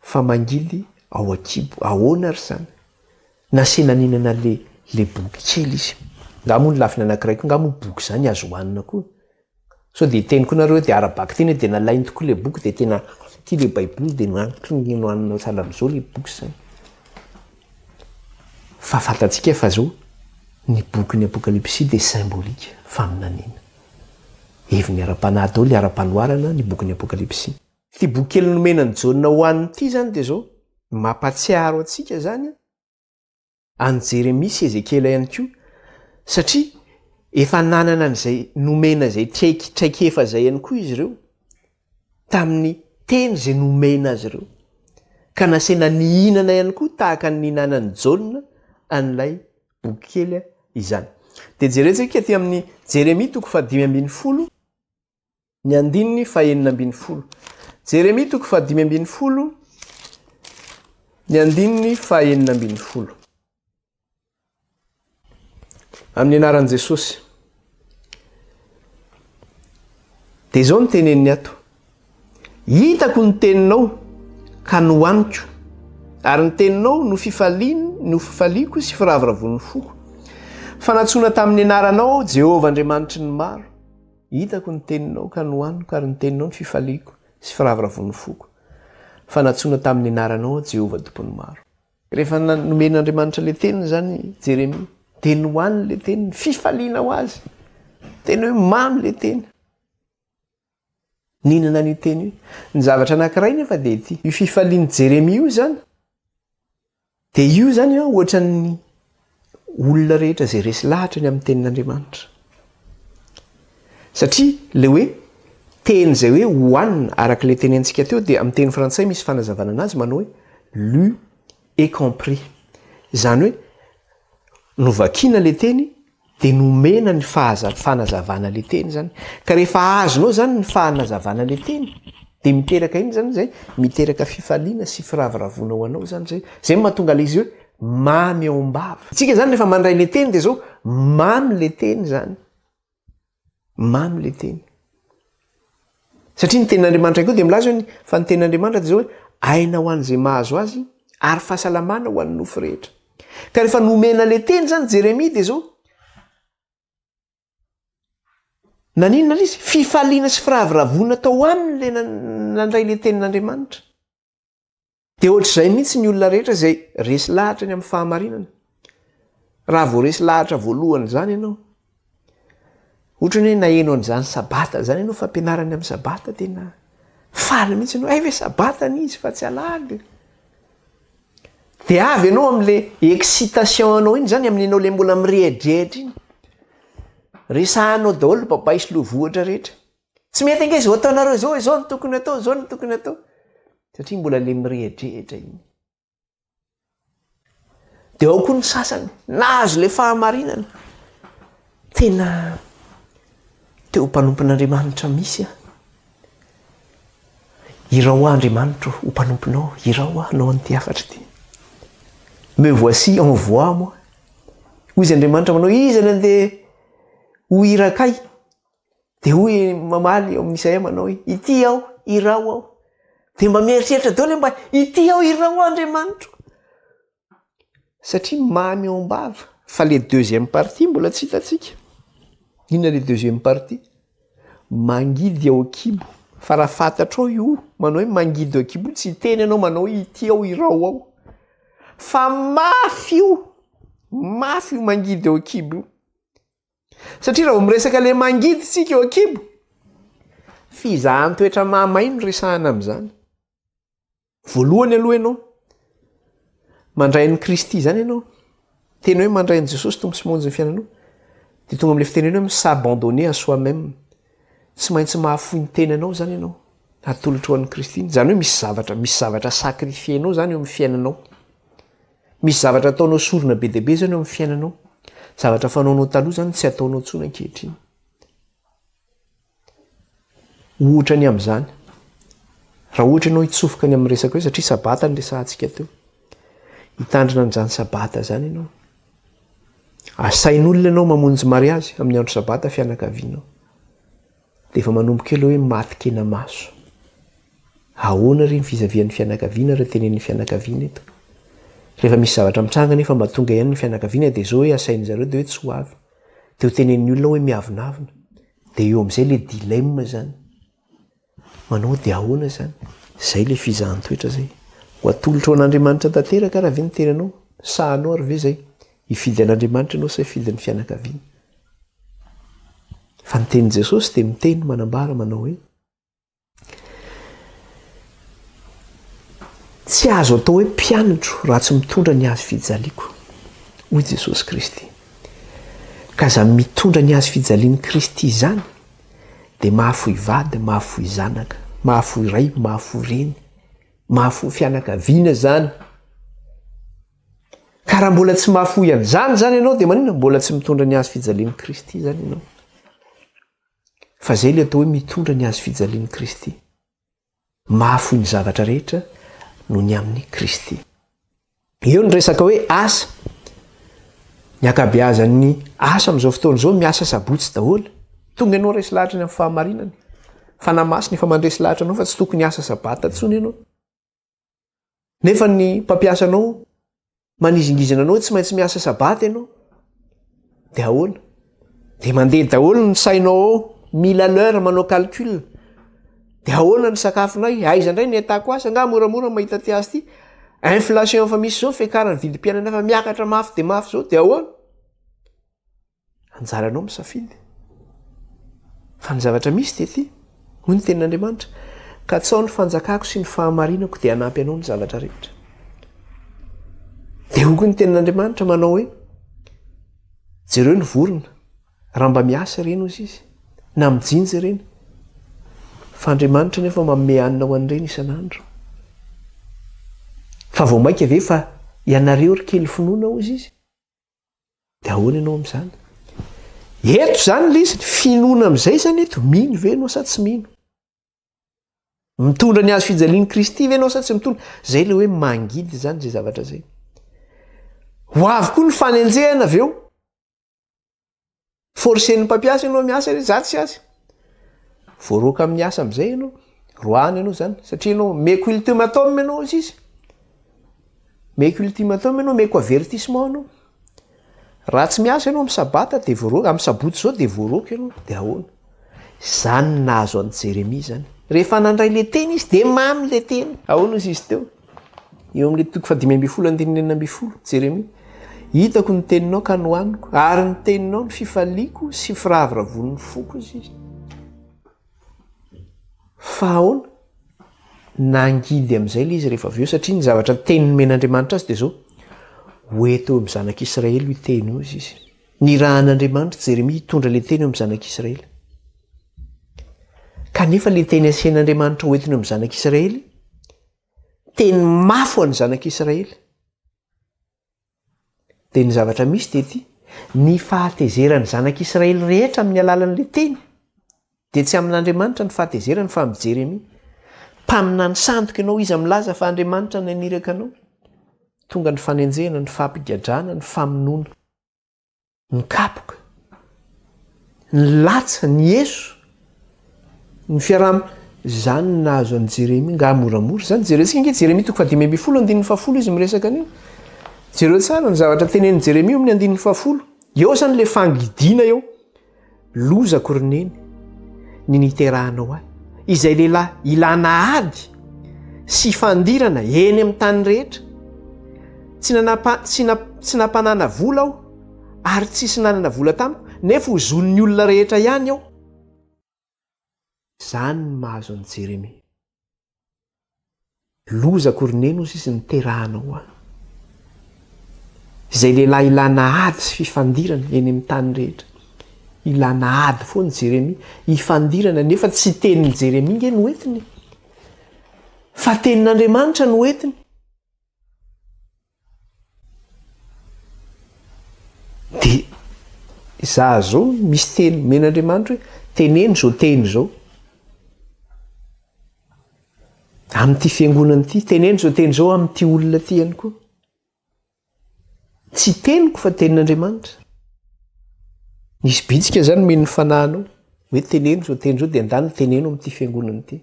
fa mangidy ao an-kibo, ahoana ary izany? Nasiana ninana le le boky kely izy. Nga moa ny lafiny anakiray koa nga moa boky zany azo hoanina koa. Sao de teny koa nareo de ara-baka teny de nalainy tokoa le boky de tena tia le baiboly de nantony nohanina sahala amzao le boky zany. Fa fantatsika fa zao ny bokin'ny apokalipsy de symbolique, faminaniana. Heviny ara-panahy daholo le ara-panoharana ny bokin'ny apokalipsy. Ity boky kely nomena an'i Jaona hohanina ity izany dia izao, mampahatsiaro antsika izany an'i Jeremia sy Ezekiela ihany koa, satria efa nanana an'izay nomena izay traik- traikefa izay ihany koa izy ireo, tamin'ny teny izay nomena azy ireo. Ka nasaina nihinana ihany koa tahaka ny nihinanan'i Jaona an'ilay boky kely izany. Dia jerentsika aty amin'ny Jeremia toko fahadimy ambin'ny folo, Ny andininy fahenina ambin'ny folo. Jeremia toko fahadimy ambin'ny folo, ny andininy fahenina ambin'ny folo. Amin'ny anaran'i Jesosy. Dia izao ny teneniny ato. Hitako ny teninao ka nohaniko. Ary ny teninao no fifalian, no fifaliako sy firavoravoan'ny foko. Fanatsoana tamin'ny anaranao, Jehovah Andriamanitry ny maro. Hitako ny teninao ka nohaniko, ary ny teninao no fifaliako sy firavoravoan'ny foko, fa nantsoina tamin'ny anaranao aho, Jehovah Tompon'ny maro. Rehefa nomen'Andriamanitra ilay teniny izany Jeremia, dia nohaniny ilay teniny, fifaliana ho azy. Tena hoe mamy ilay teny. Nihinana an'io teny io. Ny zavatra anankiray nefa dia ity, io fifalian'i Jeremia io izany, Dia io izany ohatran'ny olona rehetra izay resy lahatra ny amin'ny Tenin'Andriamanitra. Satria ilay hoe teny izay hoe hohanina, araka ilay tenentsika teo, dia amin'ny teny frantsay misy fanazavana anazy manao hoe lu et compris. Izany hoe novakiana ilay teny, Dia nomena ny fahaza, fanazavana le teny zany. Ka rehefa azonao zany ny fahanazavana le teny, dia miteraka inona zany zay? Miteraka fifaliana sy firavoravoana ho anao zany zay. Zay no mahatonga le izy hoe mamy ao am-bava. Tsika zany rehefa mandray le teny dia zao, mamy le teny zany. Mamy le teny. Satria ny tenin'Andriamanitra ihany koa dia milaza hoe fa ny tenin'Andriamanitra dia izao hoe aina ho an'izay mahazo azy ary fahasalamana ho an'ny nofo rehetra. Ka rehefa nomena le teny izany Jeremia dia izao Naninona ilay izy? Fifaliana sy firavoravoana tao aminy ilay nandray ilay tenin'Andriamanitra. Dia ohatr'izay mihitsy ny olona rehetra izay resy lahatra ny amin'ny fahamarinana. Raha vao resy lahatra voalohany izany ianao, ohatra ny hoe naheno an'izany sabata izany ianao, fampianarany amin'ny sabata, tena faly mihitsy ianao, hay ve sabata ny izy fa tsy alahady. Dia avy ianao amin'ilay excitation anao iny izany, amin'ny anao ilay mbola mirehidrehitra iny. Resahanao daholo babay sy lovohitra rehetra. Tsy mety ange izao ataonareo izao, izao no tokony atao, izao no tokony atao. Satria mbola le mirehadrehitra iny. Dia ao koa ny sasany, nahazo le fahamarinana. Tena teo mpanompon'Andriamanitra misy aho. Irao aho Andriamanitro ho mpanomponao, irao aho hanao an'ity hafatra ity. Me voici, envoie moi. Hoy izy Andriamanitra manao, iza no andeha ho irakay? Dia hoy i mamaly eo amin'izay amanao hoe, Ity aho, iraho aho. Dia mba mieritreritra daholo hoe mba ity aho, iraho aho Andriamanitro. Satria mamy ao am-bava. Fa ilay deuxième partie mbola tsy hitantsika. Inona ilay deuxième partie? Mangidy ao an-kibo. Fa raha fantatrao io, manao hoe mangidy ao an-kibo, tsy hiteny ianao manao hoe ity aho, iraho aho. Fa mafy io, mafy io mangidy ao an-kibo io. Satria raha vao miresaka le mangidy tsika eo ankibo, fizahan-toetra mahamay no resahana amin'izany. Voalohany aloha ianao, mandray an'i Kristy izany ianao, tena hoe mandray an'i Jesosy Tompo sy Monjy ny fiainanao, de tonga am'le fitenena hoe mi-s'abandonner à soi-même. Tsy maintsy mahafoy ny tenanao zany ianao, atolotro an'i Kristy. Zany hoe misy zavatra, misy zavatra sacrifier-nao zany eo amin'ny fiainanao. Misy zavatra ataonao sorona be dia be izany eo amin'ny fiainanao. Zavatra fanaonao taloha izany tsy ataonao intsony ankehitriny. Ohatra ny amin'izany, raha ohatra ianao hitsofoka ny amin'ny resaka hoe satria sabata ny resahantsika teo. Hitandrina an'izany sabata izany ianao. Asain'olona ianao mamonjy mariazy amin'ny andro sabata fianakavianao. Dia efa manomboka eo ilay hoe maty kenamaso. Ahoana re ny fizavian'ny fianakaviana raha tenenin'ny fianakaviana eto? Rehefa misy zavatra mitranga anefa mba tonga ihany ny fianakaviana dia izao hoe asain'ny zareo dia hoe tsy ho avy. Dia ho tenenin'ny olona hoe miavonavona. Dia eo amin'izay ilay dilemme izany. Manao dia ahoana izany? Izay ilay fizahan-toetra izay. Ho atolotro ho an'Andriamanitra tanteraka raha ve ny tenanao? Sahanao ary ve izay? Hifidy an'Andriamanitra ianao sa hifidy ny fianakaviana? Fa ny tenin'i Jesosy dia miteny manambara manao hoe tsy azo atao hoe mpianatro raha tsy mitondra ny hazo fijaliako, hoy Jesosy Kristy. Ka izany mitondra ny hazo fijalian'i Kristy izany dia mahafoy vady, mahafoy zanaka, mahafoy ray, mahafoy reny, mahafoy fianakaviana izany. Ka raha mbola tsy mahafoy an'izany izany ianao dia maninona mbola tsy mitondra ny hazo fijalian'i Kristy izany ianao? Fa izay ilay atao hoe mitondra ny hazo fijalian'i Kristy. Mahafoy ny zavatra rehetra no ny amin'i Kristy. Eo ny resaka hoe asa. Ny ankabeazan'ny asa amin'izao fotoana izao miasa sabotsy daholo. Tonga ianao resy lahatra ny amin'ny fahamarinana. Fanahy Masina efa mandresy lahatra anao fa tsy tokony asa sabata intsony ianao. Nefa ny mpampiasa anao manizingizina anao tsy maintsy miasa sabata ianao. Dia ahoana? Dia mandeha daholo ny sainao ao, mila l'heure manao calcul. Dia ahoana ny sakafonay? Aiza indray ny entako asa? Nga moramora mahita ty asa ty. Inflation efa misy izao fiakaran'ny vidim-piainana efa miakatra mafy dia mafy izao dia ahoana? Anjaranao misafidy. Fa ny zavatra misy dia ity, hoy ny Tenin'Andriamanitra, Katsaho ny fanjakako sy ny fahamarinako dia hanampy anao ny zavatra rehetra. Dia hoy koa ny Tenin'Andriamanitra manao hoe, Jereo ny vorona, raha mba miasa ireny hozy izy, na mijinja ireny. Fa Andriamanitra nefa manome hanina ho an'ireny isan'andro. Fa vao mainka ve fa ianareo ry kely finoana hozy izy? De ahoana ianao amin'izany? Eto izany ilay izy, ny finoana amin'izay izany eto, mino ve ianao sa tsy mino? Mitondra ny hazo fijalian'i Kristy ve ianao sa tsy mitondra? Izay ilay hoe mangidy izany izay zavatra izay. Ho avy koa ny fanenjehana avy eo. Forcen'ny mpampiasa ianao miasa re, za tsy azy. Voaroaka amin'ny asa amin'izay ianao. Roahany ianao zany satria ianao meko ultimatum ianao izy izy. Meko ultimatum ianao, meko avertissement ianao. Raha tsy miasa ianao amin'ny sabata dia voaroaka, amin'ny sabotsy izao dia voaroaka ianao, dia ahoana? Zany nahazo an'i Jeremia zany. Rehefa nandray le teny izy dia mamy le teny. Ahoana hoy izy teo? Eo amin'ny toko fahadimy ambin'ny folo andininy enina ambin'ny folo, Jeremia, Hitako ny teninao ka nohaniko, ary ny teninao no fifaliako sy firavoravoan'ny foko, hoy Izy. Fa ahoana? Nangidy amin'izay ilay izy rehefa avy eo, satria ny zavatra niteny nomen'Andriamanitra azy dia izao, Ho eto eo amin'ny zanak'Israely io teny io, hoy Izy. Nirahan'Andriamanitra i Jeremia hitondra ilay teny eo amin'ny zanak'Israely. Kanefa ilay teny asian'Andriamanitra hoentiny eo amin'ny zanak'Israely, teny mafy ho an'ny zanak'israely dia ny zavatra misy dia ty ny fahatezeran'ny zanak'israely rehetra amin'ny alalan'la teny dia tsy amin'andriamanitra ny fahatezerany fa min'i jeremia mpaminany sandoka ianao izy amin'nylaza fa andriamanitra ny aniraka anao tonga ny fanenjehana ny fampigadrana ny famonoana Ny kapoka. Nilatsa, nieso, ny fiaraha-. Izany no nahazo an'i Jeremia. Ngah moramora izany? Jerentsika ange Jeremia toko fahadimy ambin'ny folo andininy fahafolo izy miresaka an'io. Jereo tsara ny zavatra tenenin'i Jeremia eo amin'ny andininy fahafolo. Eo izany ilay fangidiana eo. Lozako ry Neny ny niterahanao ahy. Izay lehilahy ilana ady sy fandirana eny amin'ny tany rehetra. Tsy nanapa, tsy na, tsy nampanana vola aho ary tsisy nanana vola tamiko nefa ho zon'ny olona rehetra ihany aho. Zany ny mahazo an'i Jeremia. Loza akory nino hozy izy niterahana ho any. Izay lehilahy ilana ady sy fifandirana eny amin'ny tany rehetra. Ilana ady foana Jeremia, hifandirana nefa tsy tenin'i Jeremia nge no entiny. Fa tenin'Andriamanitra no entiny. Dia izaho izao misy teny omen'Andriamanitra hoe teneno izao teny izao. Amin'ity fiangonana ity, teneno izao teny izao amin'ity olona ity ihany koa. Tsy teniko fa tenin'Andriamanitra. Nisy bitsika izany mino ny fanahinao hoe teneno izao teny izao dia ndany teneno amin'ity fiangonana ity.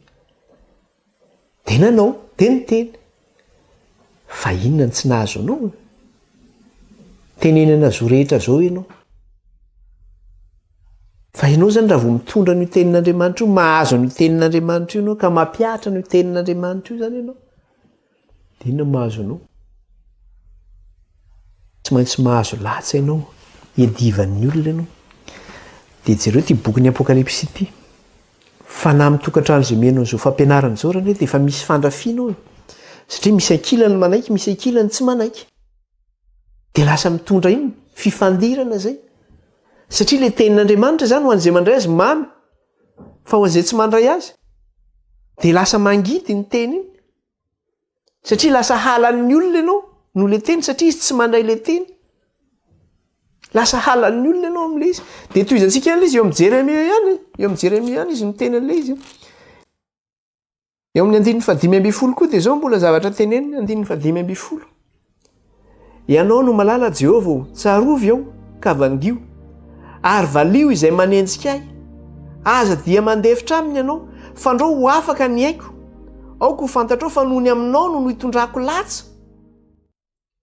Dia nanao, dia niteny. Fa inona no tsy nahazo anao e? Tenenana zo rehetra zao ianao. Fa ianao zany raha vao mitondra an'io tenin'Andriamanitra io, mahazo an'io tenin'Andriamanitra io ianao ka mampihatra an'io tenin'Andriamanitra io zany ianao. Inona no mahazo anao? Tsy maintsy mahazo latsa ianao, hiadivan'ny olona ianao. Dia jereo ity bokin'ny Apokalypsy ity. Fanahy mitokantrano izay omena an'izao fampianarana izao raha indray dia efa misy fandrafiana ao e. Satria misy ankilany manaiky, misy ankilany tsy manaiky. Dia lasa mitondra inona? Fifandirana izay. Satria ilay tenin'Andriamanitra izany ho an'izay mandray azy mamy, fa ho an'izay tsy mandray azy dia lasa mangidy iny teny iny. satria lasa halan'ny olona ianao no le teny satria izy tsy mandray le teny lasa halan'ny olona ianao am'le izy de toizantsika an'la izy eo am' jeremia ihany eo am' jeremia ihany izy miteny an'le izy eo amin'ny andininy fadimy amby folo koa de zao mbola zavatra teneniny andininy fadimy amby folo Ianao no malala, Jehovah ô, tsarovy aho, ka vangio, ary valio izay manenjika ahy. Aza dia mandefitra aminy ianao, fandrao ho afaka ny aiko. Aoka ho fantatrao fa nony aminao no nitondrako latsa.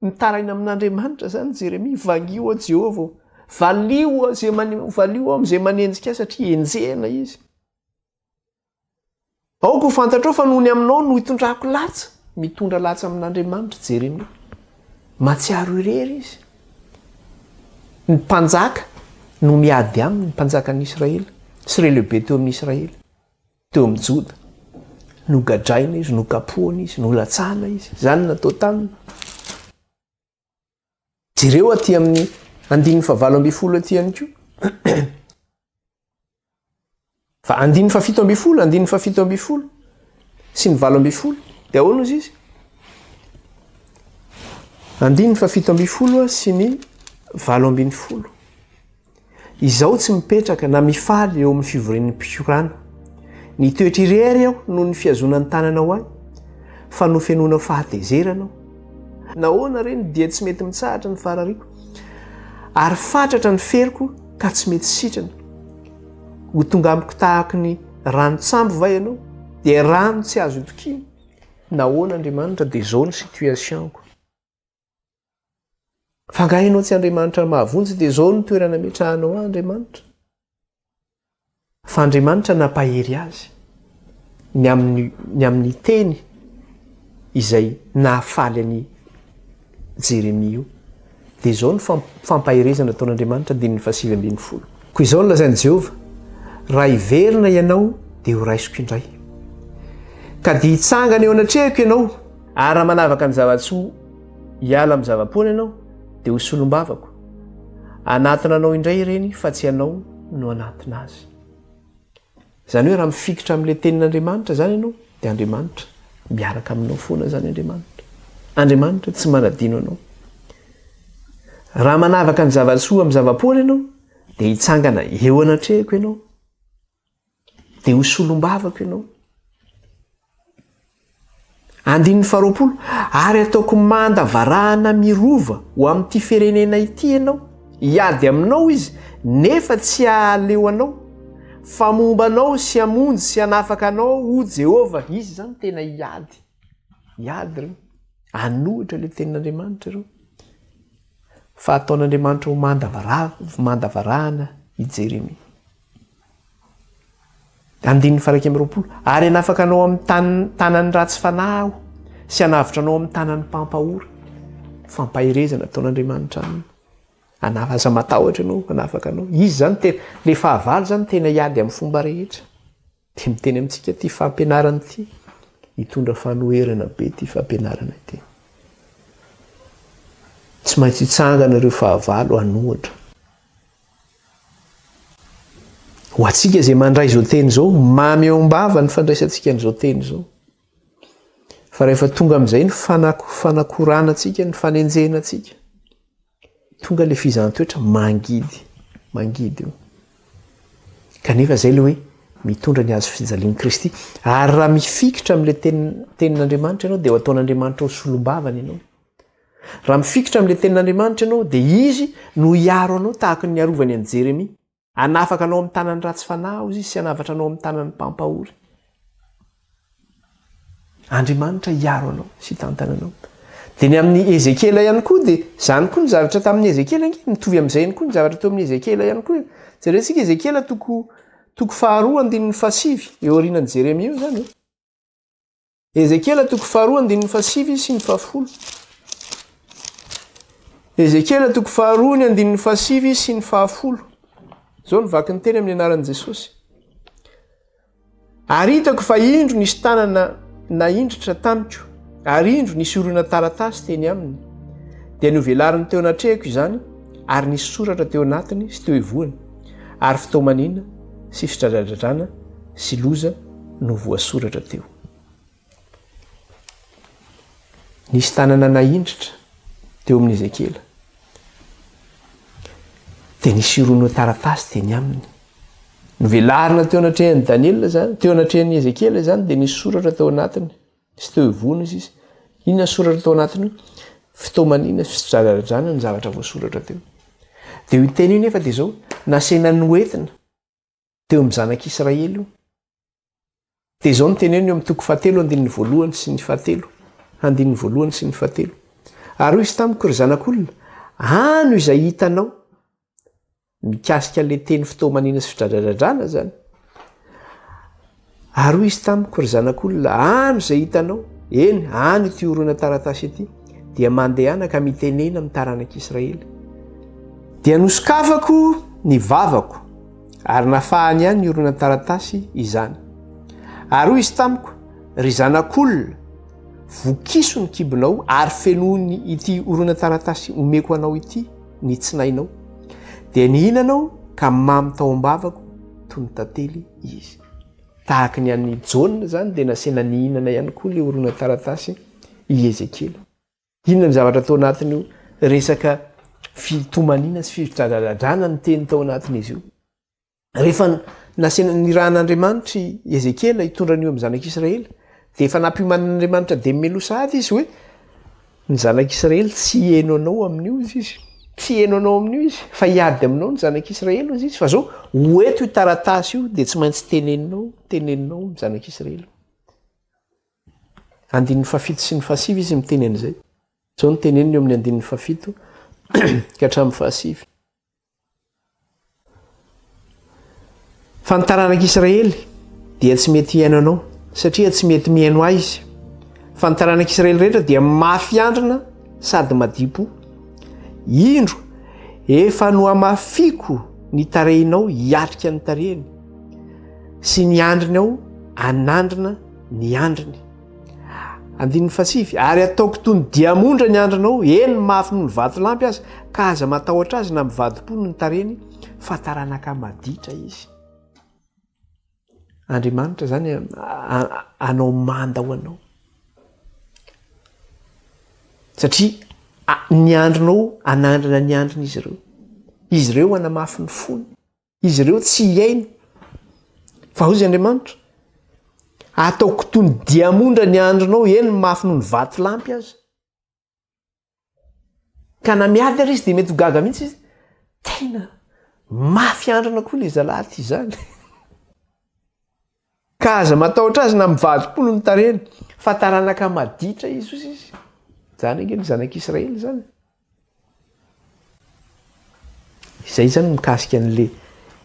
Mitaraina amin'Andriamanitra izany Jeremia, Vangio aho, Jehovah ô, valio aho izay manenjika ahy, satria enjehina izy. Aoka ho fantatrao fa noho ny aminao no itondrako latsa, mitondra latsa amin'Andriamanitra Jeremia. Mahatsiaro irery izy. Ny mpanjaka no miady aminy, ny mpanjakan'i Israely sy ireo lehibe teo amin'ny Israely, teo amin'ny Joda. Nogadraina izy, nokapohina izy, nolatsahana izy. Izany no natao taminy. Jereo aty amin'ny andininy fahavalo ambin'ny folo aty ihany koa. Fa andininy fahafito ambin'ny folo, andininy fahafito ambin'ny folo sy ny valo ambin'ny folo. Dia ahoana ozy izy? Andininy fahafito ambin'ny folo sy ny valo ambin'ny folo. Izaho tsy mipetraka na mifaly eo amin'ny fivorian'ny mpikorana. Nitoetra irery aho noho ny fihazoana ny tananao ahy, fa nofenoina fahatezerana aho. Nahoana re no dia tsy mety mitsahatra ny farariako, ary fatratra ny feriko ka tsy mety sitrana? Ho tonga amiko tahaka ny ranon-tsambo va ianao, dia rano tsy azo itokiana? Nahoana, Andriamanitra, dia izao ny situation-ko? Fa nga ianao tsy Andriamanitra mahavonjy dia izao ny toerana ametrahanao ahy Andriamanitra. Fa Andriamanitra nampahery azy ny amin'ny ny amin'ny teny izay nahafaly an'i Jeremia io. Dia izao ny fampaherezana ataon'Andriamanitra andininy fahasivy ambin'ny folo. Koa izao no lazain'i Jehovah, Raha hiverina ianao, dia horaisiko indray. Ka dia hitsangana eo anatrehako ianao, ary raha manavaka ny zava-tsoa hiala amin'ny zava-poana ianao, dia ho solombavako. Hanatona anao indray ireny, fa tsy ianao no hanatona azy. Izany hoe raha mifikitra amin'ilay tenin'Andriamanitra izany ianao dia Andriamanitra miaraka aminao foana izany Andriamanitra. Andriamanitra tsy manadino anao. Raha manavaka ny zava-tsoa amin'ny zava-poana ianao dia hitsangana eo anatrehako ianao. Dia ho solombavako ianao. Andininy faharoapolo, Ary hataoko manda varahana mirova ho amin'ity firenena ity ianao, hiady aminao izy, nefa tsy hahaleo anao, fa momba anao sy hamonjy sy hanafaka anao, hoy Jehovah. Izy izany tena hiady, hiady ireo, hanohitra ilay tenin'Andriamanitra ireo, fa hataon'Andriamanitra ho manda varahana i Jeremia. Andininy faha iraika amby roapolo, Ary hanafaka anao amin'ny tanin'ny tanan'ny ratsy fanahy Aho, sy hanavotra anao amin'ny tanan'ny mpampahory. Fampaherezana ataon'Andriamanitra aminy. Hanafaka, aza matahotra ianao, hanafaka anao. Izy izany tena, ilay fahavalo izany tena hiady amin'ny fomba rehetra. Dia miteny amintsika ity fampianarana ity. Hitondra fanoherana be ity fampianarana ity. Tsy maintsy hitsangana ireo fahavalo hanohitra. Ho antsika izay mandray izao teny izao, mamy eo am-bava ny fandraisantsika an'izao teny izao. Fa rehefa tonga amin'izay ny fanako, fanakorana antsika, ny fanenjehana antsika, tonga ilay fizahantwetra mangidy, mangidy io. Kanefa izay ilay hoe mitondra ny hazo fijalian'i Kristy. Ary raha mifikitra amin'ilay tenin'Andriamanitra ianao, dia ho ataon'Andriamanitra ho solombavany ianao. Raha mifikitra amin'ilay Tenin'Andriamanitra ianao, dia Izy no hiaro anao tahaka ny niarovany an'i Jeremia. Hanafaka anao amin'ny tanan'ny ratsy fanahy hozy Izy sy hanavatra anao amin'ny tanan'ny mpampahory. Andriamanitra hiaro anao sy hitantana anao. Dia ny amin'ny Ezekiela ihany koa, dia izany koa ny zavatra tamin'ny Ezekiela ange, mitovy amin'izay ihany koa ny zavatra teo amin'ny Ezekiela ihany koa. Jerentsika Ezekiela toko, toko faharoa, andininy fahasivy, eo aorianan'i Jeremia eo izany. Ezekiela toko faharoa andininy fahasivy sy ny fahafolo. Ezekiela toko faharoa ny andininy fahasivy sy ny fahafolo. Izao ny vaky ny teny amin'ny anaran'i Jesosy. Ary hitako fa indro nisy tanana naindritra tamiko, ary indro nisy orona taratasy teny aminy. Dia novelariny teo anatrehako izany, ary nisy soratra teo anatiny sy teo ivohony. ary fitaomaniana sy fidradradradrana sy loza no voasoratra teo. Nisy tanana naindritra teo amin'ny Ezekiela. Dia nisy irono taratasy teny aminy. Novelarina teo anatrehan'i Daniela izany, teo anatrehan'i Ezekiela izany, dia nisy soratra teo anatiny. Tsy teo ivony izy izy. Inona soratra tao anatiny io? Fitaomana inona? Fidradradradrana ny zavatra voasoratra teo. Dia io teny io nefa dia izao, nasehina noentina teo amin'ny zanak'Israely io. Dia izao no teneniny eo amin'ny toko fahatelo andininy voalohany sy ny fahatelo. Andininy voalohany sy ny fahatelo. Ary hoy izy tamiko, ry zanak'olona, ano izay hitanao. Mikasika an'ilay teny fotoamaniana sy fidradradradrana izany, ary hoy izy tamiko, Ry zanak'olona, any izay hitanao, eny, any ity horonan-taratasy ity, dia mandehana ka mitenena amin'ny taranak'Israely. Dia nosokafako ny vavako, ary nafahany ihany ny horonan-taratasy izany. Ary hoy izy tamiko, Ry zanak'olona, vokiso ny kibonao ary fenoiny ity horonan-taratasy omeko anao ity. ny tsinainao, dia nihinana aho ka mamy tao am-bavako toy ny tantely izy. Tahaka ny an'i Jaona izany dia nasaina nihinana ihany koa ilay horonantaratasy i Ezekiela. Inona ny zavatra tao anatin'io resaka fitomaniana sy fidradradradrana ny teny tao anatin'izy io? rehefa nasina nirahan'andriamanitra i ezekiela hitondra an'io amin'ny zanak'israely dia efa nampiomanan'andriamanitra dia melo sahady izy hoe ny zanak'israely tsy heno anao amin'io izy izy tsy heno anao amin'io izy fa hiady aminao ny zanak'israely izy izy fa zao ho eto io taratasy io dia tsy maintsy teneninao teneninao ny zanak'israely andin'ny fafito sy ny fasiv izy miteny an'izay zao ny teneniny eo amin'ny andin'ny fafito ka hatramin'ny fahasivy Fa ny taranak'Israely dia tsy mety hihaino anao, satria tsy mety mihaino ahy izy. Fa ny taranak'Israely rehetra dia mafy andrina sady madipo. Indro, efa nohamafiko ny tarehinao hiatrika ny tarehiny, sy ny andriny aho hanandrina ny andriny. andininy fasivy ary ataoko toy ny diamondra ny andrinao eny mafy noho ny vatolampy aza ka aza matahotra azy na mivadi-po noho ny tareny fa taranaka maditra izy andriamanitra zany anao manda ho anao satria ny andrinao anandrana ny andrina izy ireo izy ireo anamafy ny fony Izy ireo tsy hihaino. Fa hoy Andriamanitra, Hataoko toy ny diamondra ny andronao, eny, mafy noho ny vatolampy aza. Ka na miady ary izy dia mety ho gaga mihitsy izy, tena mafy androna koa ilay zalahy ity izany. Ka aza matahotra azy na mivadi-polo ny tarehiny, fa taranaka maditra i Jesosy izy. Zany ange ny zanak' Israely zany. Izay zany mikasika an'le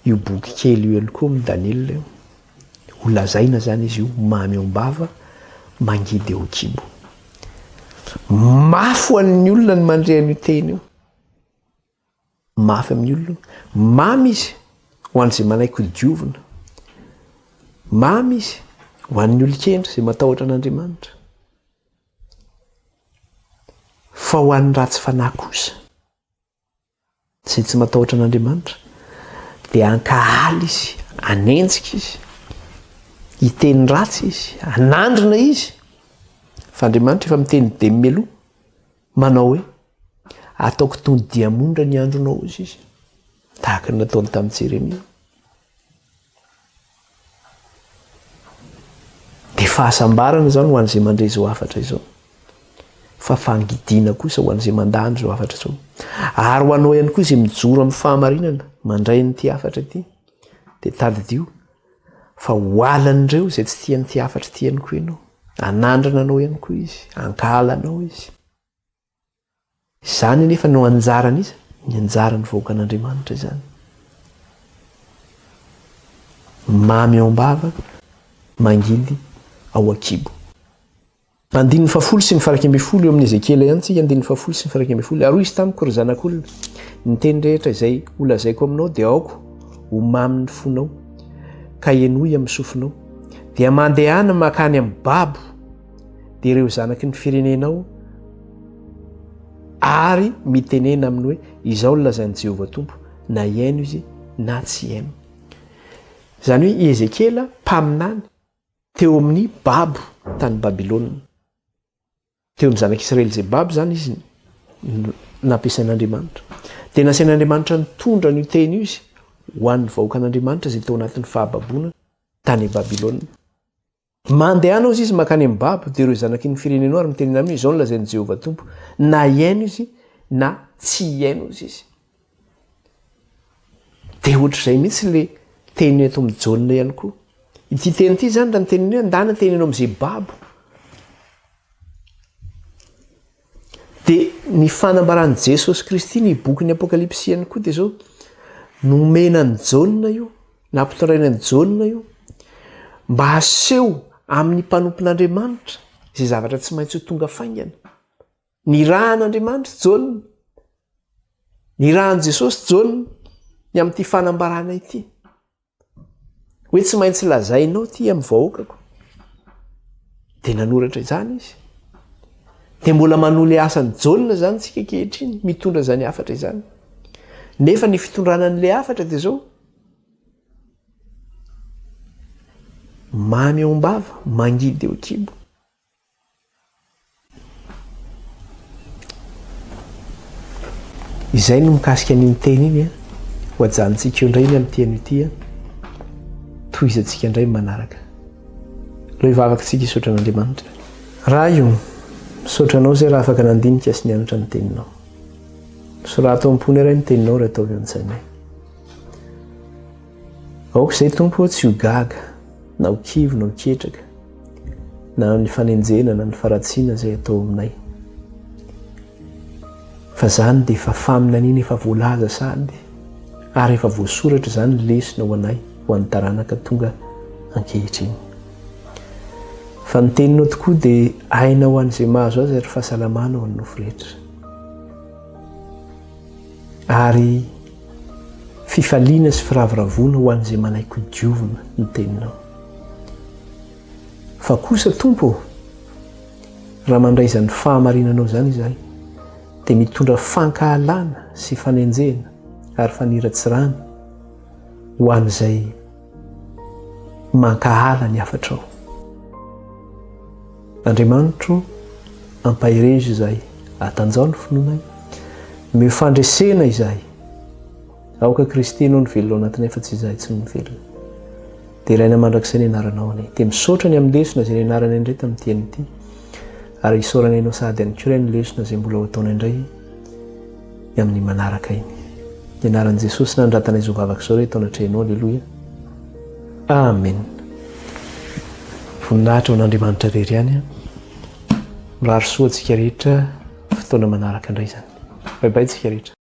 io boky kely io ihany koa amin'ny Daniela io. Ho lazaina zany izy io mamy ao am-bava, mangidy eo an-kibo. Mafy ho an'ny olona ny mandre an'io teny io. Mafy amin'ny olona. Mamy izy ho an'izay manaiky ho diovina. Mamy izy ho an'ny olon-kendry izay matahotra an'Andriamanitra. Fa ho an'ny ratsy fanahy kosa, izay tsy matahotra an'Andriamanitra, dia hankahala izy, hanenjika izy, hiteny ratsy izy, hanandrina izy. Fa Andriamanitra efa miteny be mialoha. Manao hoe, Ataoko toy ny diamondra ny andronao, hoy izy, tahaka ny nataony tamin'i Jeremia. Dia fahasambarana izany ho an'izay mandre izao hafatra izao, fa fangidiana kosa ho an'izay mandany izao hafatra izao. Ary ho anao ihany koa izay mijoro amin'ny fahamarinana mandray an'ity hafatra ity, dia tadidio Fa ho alan'ireo izay tsy tia an'ity hafatry ity ihany koa ianao. Hanandrana anao ihany koa izy, hankahala anao izy. Izany anefa no anjaran'iza? Ny anjaran'ny vahoakan'Andriamanitra izany. Mamy ao am-bava, mangidy ao an-kibo. Andininy fahafolo sy ny faha-iraika ambin'ny folo, eo amin'i Ezekiela ihany isika, andininy fahafolo sy ny faha-iraika ambin'ny folo, ary hoy izy tamiko, Ry zanak'olona, ny teny rehetra izay holazaiko aminao dia aoka ho mamin'ny fonao, ka henoy amin'ny sofinao. Dia mandehana mankany amin'ny babo, dia ireo zanaky ny firenenao, ary mitenena aminy hoe, Izao no lazain'i Jehovah Tompo, na hihaino izy na tsy hihaino. Izany hoe i Ezekiela, mpaminany, Teo amin'ny babo tany Babylona. Teo ny zanak'Israely izay babo izany izy no nampiasain'Andriamanitra. Dia nasain'Andriamanitra nitondra an'io teny io izy ho an'ny vahoakan'Andriamanitra izay tao anatin'ny fahababoana tany Babylona. Mandehana hozy izy mankany amin'ny babo, dia ireo zanaky ny firenenao ary mitenena aminy hoe, Izao no lazain'i Jehovah Tompo, Na hihaino izy, na tsy hihaino hozy izy. Dia ohatr'izay mihitsy ilay teny eto amin'ny jaona ihany koa. Ity teny ity izany raha ny teny hoe an-dà na teny eo amin'izay babo. Dia ny fanambaran'i Jesosy Kristy ny bokin'ny Apokalypsy ihany koa dia izao nomena an'i Jaona io, nampitondraina an'i Jaona io mba haseho amin'ny mpanompon'Andriamanitra izay zavatra tsy maintsy ho tonga faingana. Nirahan'Andriamanitra Jaona, nirahan'i Jesosy Jaona ny amin'ity fanambarana ity. Hoe tsy maintsy lazainao ity amin'ny vahoakako. Dia nanoratra izany izy. Dia mbola manohy ilay asan'i Jaona izany tsika ankehitriny, mitondra izany hafatra izany. Nefa ny fitondrana an'ilay hafatra dia izao. Mamy ao am-bava, mangidy eo an-kibo. Izay no mikasika an'iny teny iny an. Ho ajanontsika eo indray ny amin'ity anio ity an. Tohizantsika indray manaraka. Leo hivavaka antsika hisaotra an'Andriamanitra. Ray o, misaotra anao izay raha afaka nandinika sy nianatra ny teninao. Sorato am-pony iray ny teninao ry ataovy an-tsainay. Aoka izay tompo tsy ho gaga, na ho kivy, na ho ketraka. na ny fanenjena na ny faratsiana izay atao aminay. Fa izany dia efa faminaniana efa voalaza sahady ary efa voasoratra izany lesona ho anay ho an'ny taranaka tonga ankehitriny. Fa ny teninao tokoa dia aina ho an'izay mahazo azy ary fahasalamana ho an'ny nofo rehetra. Ary fifaliana sy firavoravoana ho an'izay manaiky ho diovina ny teninao. Fa kosa Tompo ô, raha mandray izany fahamarinanao izany izahay, dia mitondra fankahalana sy fanenjehana ary faniratsirana ho an'izay mankahala ny hafatrao. Andriamanitro, ampaherezo izahay, atanjaho ny finoanay, meo fandresena izahay. Aoka Kristy enoa ny velona ao anatinay fa tsy izahay tsy ny velona. Deraina mandrakizay ny anaranao anie. Dia misaotra ny amin'ny lesona izay nianarana indray tamin'ity teny ity. Ary isaorana ianao sahady ihany koa Ray ny lesona izay mbola ho ataonay indray ny amin'ny manaraka iny. Ny anaran'i Jesosy nanoratanay izao vavaka izao rehetra tao anatrehanao. Aleloia. Amen. Voninahitra ho an'Andriamanitra irery ihany. Mirary soa antsika rehetra fotoana manaraka indray izany. Bye bye tsika rehetra.